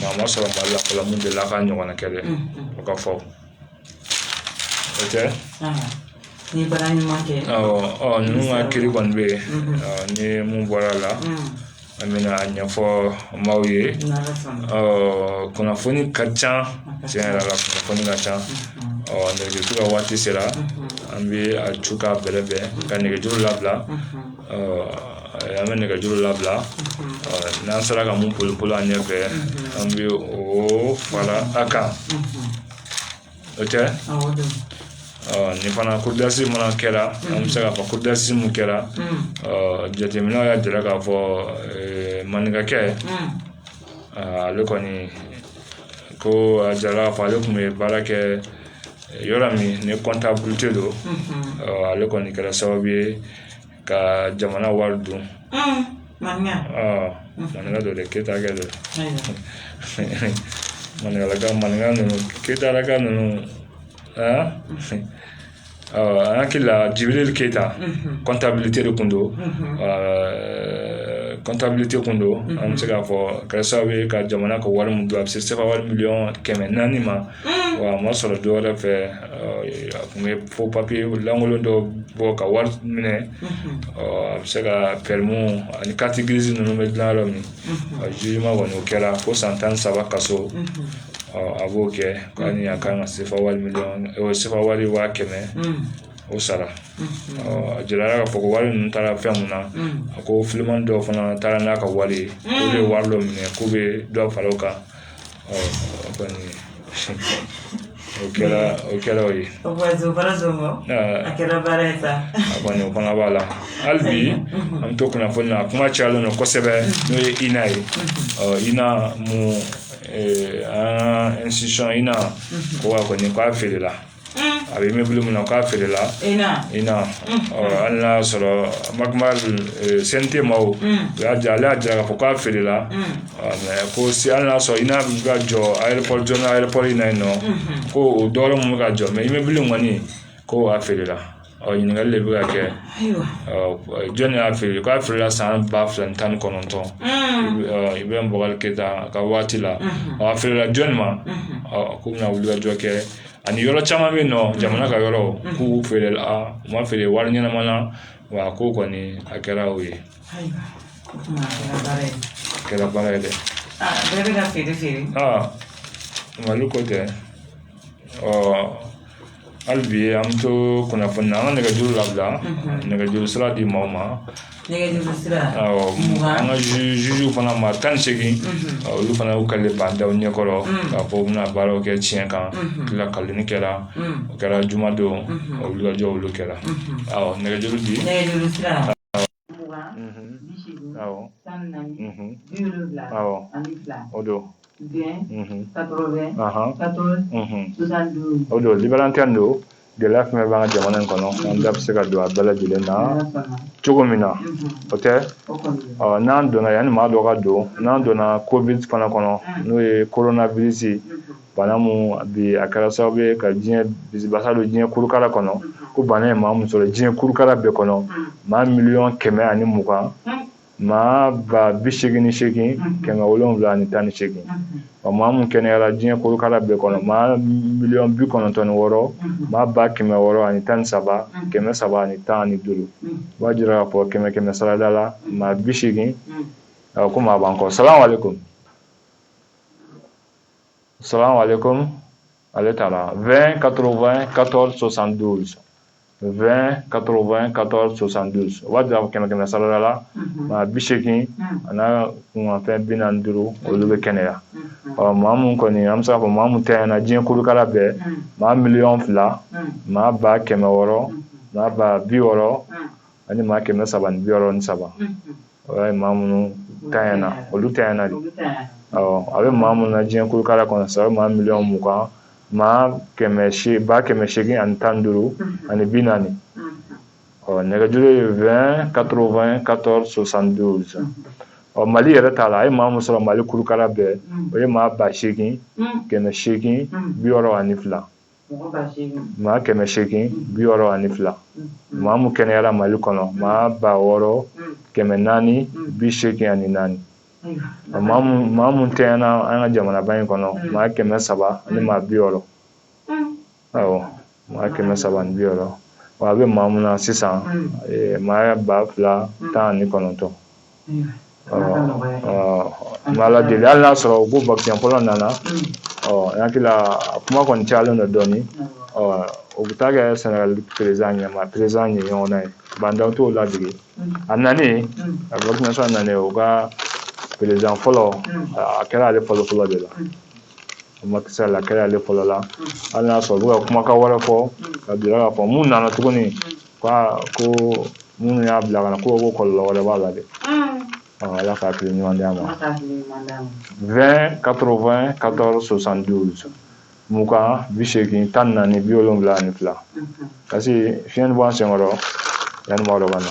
maa ma sɔrɔ mali la fɔlɔ min delila k'a ɲɔgɔnna kɛ dɛ o ka fɔ o tɛ ni baara ɲuman kɛ awɔ ninnu ka kiri kɔni bɛ yen ni min bɔra a la an bɛna a ɲɛfɔ maaw ye kunnafoni ka ca tiɲɛ yɛrɛ la kunnafoni ka ca ɔ nɛgɛjuru ka waati sera an bɛ a ju ka bɛrɛ bɛn ka nɛgɛjuru labila an bɛ nɛgɛjuru labila n'an sera ka mun boli boli an ɲɛfɛ an bɛ o fara a kan o tɛ nin fana kodasi mana kɛra an bɛ se k'a fɔ kodasi mun kɛra jateminɛw y'a jira k'a fɔ maninkakɛ ale kɔni ko a jirala ko ale tun bɛ baara kɛ yɔrɔ min ni kɔntabilite don ale kɔni kɛra sababu ye ka jamana wari dun maninka don dɛ keyita kɛ don maninkala maninka ninnu keyitalaka ninnu aa an hakili la jibiri keyita kɔntabilite de tun don kɔntabilite tun don an bɛ se k'a fɔ kɛra sababu ye ka jamana ka wari min dun a bɛ se sefa wari miliyɔn kɛmɛ naani ma wa a ma sɔrɔ dɔ wɛrɛ fɛ a tun bɛ fɔ papiye lankolon dɔ bɔ ka wari minɛ a bɛ se ka pɛrimi ani kariti girizi ninnu bɛ dilan yɔrɔ min a zuzeman kɔni o kɛra ko san tan ni saba kaso a b'o kɛ k'ani a kan ka sefa wari miliyɔn sefa wari waa kɛmɛ o sara a jirala k'a fɔ ko wari ninnu taara fɛn mun na a ko fiman dɔw fana taara n'a ka wari ye olu ye wari dɔ minɛ k'u bɛ dɔ fara o kan o kɛra o kɛra o ye o kɛra baara ye sa a kɔni o fana b'a la hali bi an bɛ to kunnafoni na a kuma cayalen don kosɛbɛ n'o ye ina ye ina mun an ka ina ko a kɔni k'a feerela a bɛ imɛbulu min na k'a feerela ina hali n'a y'a sɔrɔ ma sente ma o y'a diya ale y'a jira k'a fɔ k'a feerela ko se hali n'a sɔrɔ ina ka jɔ ayeropɔri zɔni ayeropɔri in na yen nɔ ko o dɔ tun bɛ ka jɔ mɛ imɛbulu kɔni ko a feerela ɔ ɲininkali de bɛ ka kɛ jɔnni y'a feere k'a feerela san ba fila ni tan ni kɔnɔntɔn ibirahimu bubakari keyita ka waati la a feerela jɔnni ma k'u bɛna wulikajɔ kɛ ani yɔrɔ caman bɛ yen nɔ jamana ka yɔrɔ k'u feerela u ma feere wari ɲɛnama na wa a ko kɔni a kɛra o ye a kɛra baara ye dɛ bɛɛ bɛ ka feere feere mali ko tɛ ɔ hali bi an bɛ to kunnafoni na an ka nɛgɛjuru labila nɛgɛjuru sira di maaw ma nɛgɛjuru sira awɔ an ka fama maa tan ni seegin olu fana y'u ka ban daw ɲɛkɔrɔ k'a fɔ u bɛna baaraw kɛ tiɲɛ kan tila kalini kɛra o kɛra jumadon o wulikajɔ olu kɛra awɔ nɛgɛjuru di nɛgɛjuru sira mugan bi seegin tan ni naani bi wolonwula ani fila o don vingt quatre-vingt quatorze soixante-douze o don libre antenne don gɛlɛya fɛn min b'an ka jamana in kɔnɔ an da bɛ se ka don a bɛɛ lajɛlen na cogo min na o tɛ n'an donna yanni maa dɔ ka don n'an donna covid fana kɔnɔ n'o ye koronavirisi bana mu bi a kɛra sababu ye ka diɲɛ bisibasa don diɲɛ kurukala kɔnɔ ko bana ye maa min sɔrɔ diɲɛ kurukala bɛɛ kɔnɔ maa miliyɔn kɛmɛ ani mugan maa ba bi seegin ni seegin kɛmɛ wolonwula ani tan ni seegin wa maa min kɛnɛyara diɲɛ kurukala bɛɛ kɔnɔ maa miliyɔn bi kɔnɔntɔn ni wɔɔrɔ maa ba kɛmɛ wɔɔrɔ ani tan ni saba kɛmɛ saba ani tan ani duuru b'a jira k'a fɔ kɛmɛ kɛmɛ sarada la maa bi seegin ko maa b'an kɔ salamu aleykum Salam alaikum. Ale taara 20 80 14 72. 20 80 14 72 o b'a jira ko kɛmɛ kɛmɛ sarada la mhm. maa bi seegin mhm. a n'a kunkanfɛn bi naani duuru mhm. olu bɛ kɛnɛya ɔ maa mun kɔni an bɛ se k'a fɔ maa mun tiɲɛna diɲɛ kolokala bɛɛ maa miliyɔn fila maa ba kɛmɛ wɔɔrɔ maa ba bi wɔɔrɔ ani maa kɛmɛ saba ni bi wɔɔrɔ ni saba o y'a ye maa minnu tiɲɛna olu tiɲɛna de a bɛ maa minnu na diɲɛ kolokala kɔnɔ sa maa miliyɔn mugan maa ba kɛmɛ seegin ani tan ni duuru mm-hmm. ani bi naani mm-hmm. ɔ nɛgɛjuru ye vingt quatre-vingt quatorze soixante-douze mm-hmm. ɔ mali yɛrɛ ta la a ye maa min sɔrɔ mali kulukala bɛɛ o ye maa ba seegin kɛmɛ seegin bi wɔɔrɔ ani fila maa kɛmɛ seegin bi wɔɔrɔ ani fila maa mu kɛnɛyara mali kɔnɔ maa ba wɔɔrɔ kɛmɛ naani bi seegin ani naani maa mu tiɲɛna an ka jamanaba in kɔnɔ maa kɛmɛ saba ani maa bi wɔɔrɔ awɔ maa kɛmɛ saba ani bi wɔɔrɔ wa a bɛ maa mun na sisan maa ba fila tan ani kɔnɔntɔn ala deli hali n'a sɔrɔ ko vaccin fɔlɔ nana hakili kuma kɔni cayalen don dɔɔnin o bɛ taa kɛ sɛnɛgali perezidan ɲɛma perezidan ye ɲɔgɔn na ye ba ndaw t'o ladege a nanen a vaccin nanen o ka perezidan fɔlɔ a kɛra ale fɔlɔ fɔlɔ de la macky sall a kɛra ale fɔlɔ la hali n'a sɔrɔ u bɛ ka kumakan wɛrɛ fɔ ka bila ka fɔ mun nana tuguni ko ko minnu y'a bila ka na ko ko kɔlɔlɔ wɛrɛ b'a la dɛ ala ka hakili ɲuman d'an ma 20 80 14 72 mugan bi seegin tan ni naani bi wolonwula ani fila vaccin nin b'an senkɔrɔ yanni maa dɔ ka na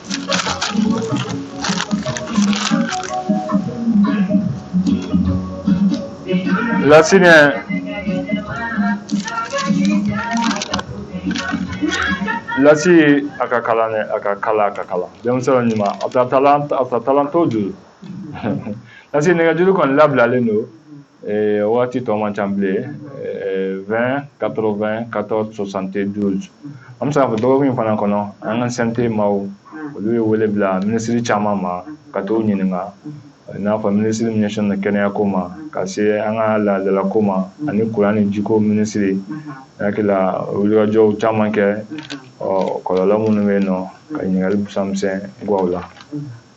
Lasinɛ? Lassi a ka kalan dɛ a ka kalan a ka kalan denmisɛnw ɲuman a ta talan a ta talan t'o juru Lassi nɛgɛjuru kɔni labilalen don ee, o waati tɔ man ca bilen ee, 20 80 14 72 an bɛ se k'a fɔ dɔgɔkun in fana kɔnɔ an ka CNT maaw olu ye wele bila minisiri caman ma ka t'u ɲininka i n'a fɔ minisiri min ɲɛsinnen don kɛnɛyako ma ka se an ka laadalako ma ani kuran ni jiko minisiri ne hakili la wulikajɔw caman kɛ o kɔlɔlɔ minnu bɛ yen nɔ ka ɲininkali busamisɛn guwaw la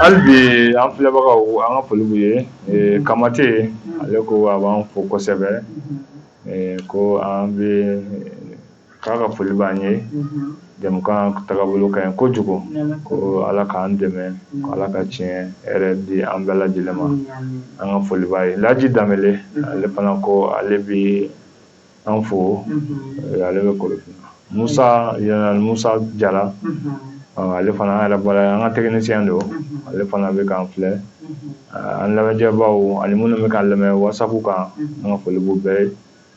Hali bi an filɛbagaw an ka foli b'u ye ee Kamate ale ko a b'an fo kosɛbɛ ee ko an bɛɛ k'a ka foli b'an ye jɛmukan tagabolo ka ɲi kojugu ko ala k'an dɛmɛ ala ka tile hɛrɛ di an bɛɛ lajɛ lajɛlen ma an ka foli b'a ye laji danbele ale fana ko ale bɛ an fo ale bɛ kɔlɔsi musa musa jara ale fana an yɛrɛ bara an ka tɛkinisiyɛn don ale fana bɛ k'an filɛ an lamɛnjɛbaw ani minnu bɛ k'an lamɛn waasa kan an ka foli b'u bɛɛ ye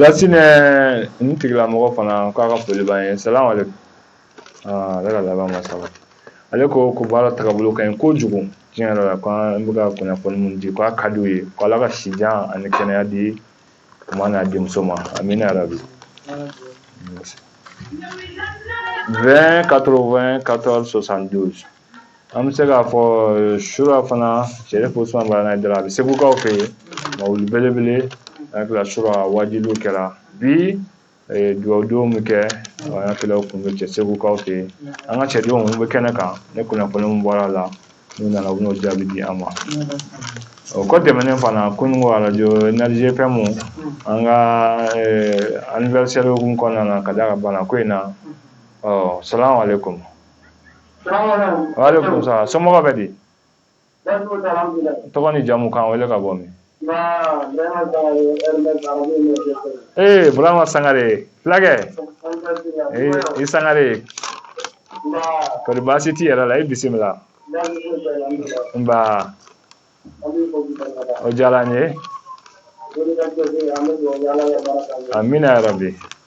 Lasinɛ nin tigilamɔgɔ fana k'a ka foli b'an ye salamalekun aa ale ka laban ma saba ale ko ko baara tagabolo ka ɲi kojugu tiɲɛ yɛrɛ la ko an bɛ ka kunnafoni mun di k'a ka d'u ye ko ala ka sijan ani kɛnɛya di u ma n'a denmuso ma amina yarabi 20 80 14 72 an bɛ se k'a fɔ euh, sura fana sɛrif usman madani ayidara a bɛ segukaw fɛ yen mawuli belebele a kɛra sura wajuliw kɛra bi dugawudonw bɛ kɛ an ka kɛlɛw kun bɛ cɛ segukaw fɛ yen an ka cidenw bɛ kɛnɛ kan ni kunnafoniw bɔra a la n'u nana u bɛn'o jaabi di an ma o kɔ tɛmɛnen fana ko ko arajo Energie FM an ka anniversaire kun kɔnɔna na ka da ka bana ko in na ɔ salamalekun walekun salam somɔgɔw bɛ di tɔgɔ ni jamu k'an wele ka bɔ min ee burama sangare fulakɛ i sangare kɔri baasi t'i yɛrɛ la i bisimila nba o diyara n ye amina yarabi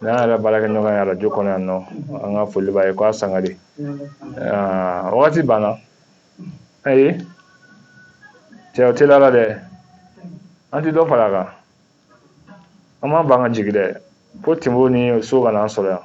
n'an yɛrɛ baarakɛɲɔgɔn ye arajo kɔnɔ yan nɔ an ka foli b'a ye k'a sangare wagati banna ayi cɛ o teliyala dɛ an ti dɔ fara a kan an b'an ban ka jigin dɛ fo tinbo ni so ka n'an sɔrɔ yan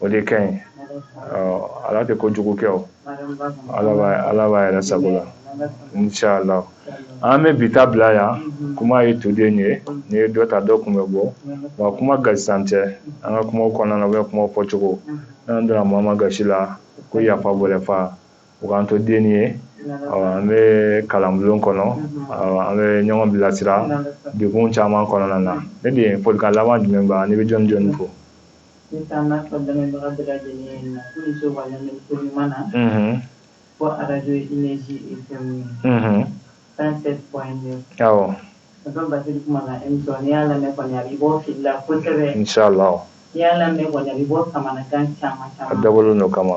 o de ka ɲi ala tɛ ko jugu kɛ o ala b'a yɛrɛ sago la ncala an bɛ bi ta bila yan kuma ye toden ye n'i ye dɔ ta dɔ kun bɛ bɔ wa kuma gasintan tɛ an ka kuma kɔnɔna bɛ kuma fɔ cogo n'an donna maa min gasi la ko yafa bɔlɛfa u k'an to den ye an bɛ kalanbulon kɔnɔ an bɛ ɲɔgɔn bilasira degun caman kɔnɔna na ne de ye folikan laban jumɛn ba ne bɛ jɔn jɔn fo Ne taa n'a fɔ lamɛnbaga bɛɛ lajɛlen na k'u ni ce waleɲuman na ko arajo énergie fm 107 point 9 a bɛ ba kuma na émission n'i y'a lamɛn kɔni a b'i bɔ fili la kosɛbɛ n'i y'a lamɛn kɔni a b'i bɔ kamanagan caman caman a dabɔlen don o kama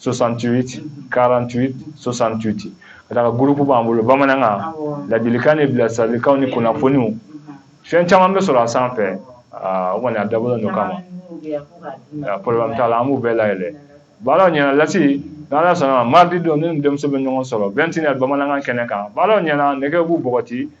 68 48 68 ka d'a kan gurupu b'an bolo bamanankan ladilikan ni bilasiralikanw ni kunnafoniw fɛn caman bɛ sɔrɔ a sanfɛ o kɔni a dabɔlen don o kama problème t'a la an b'u bɛɛ layɛlɛ baaraw ɲɛna lasi n'ala sɔnna mardi don ne ni denmuso bɛ ɲɔgɔn sɔrɔ 21 heures bamanankan kɛnɛ kan baaraw ɲɛna nɛgɛ b'u bɔgɔti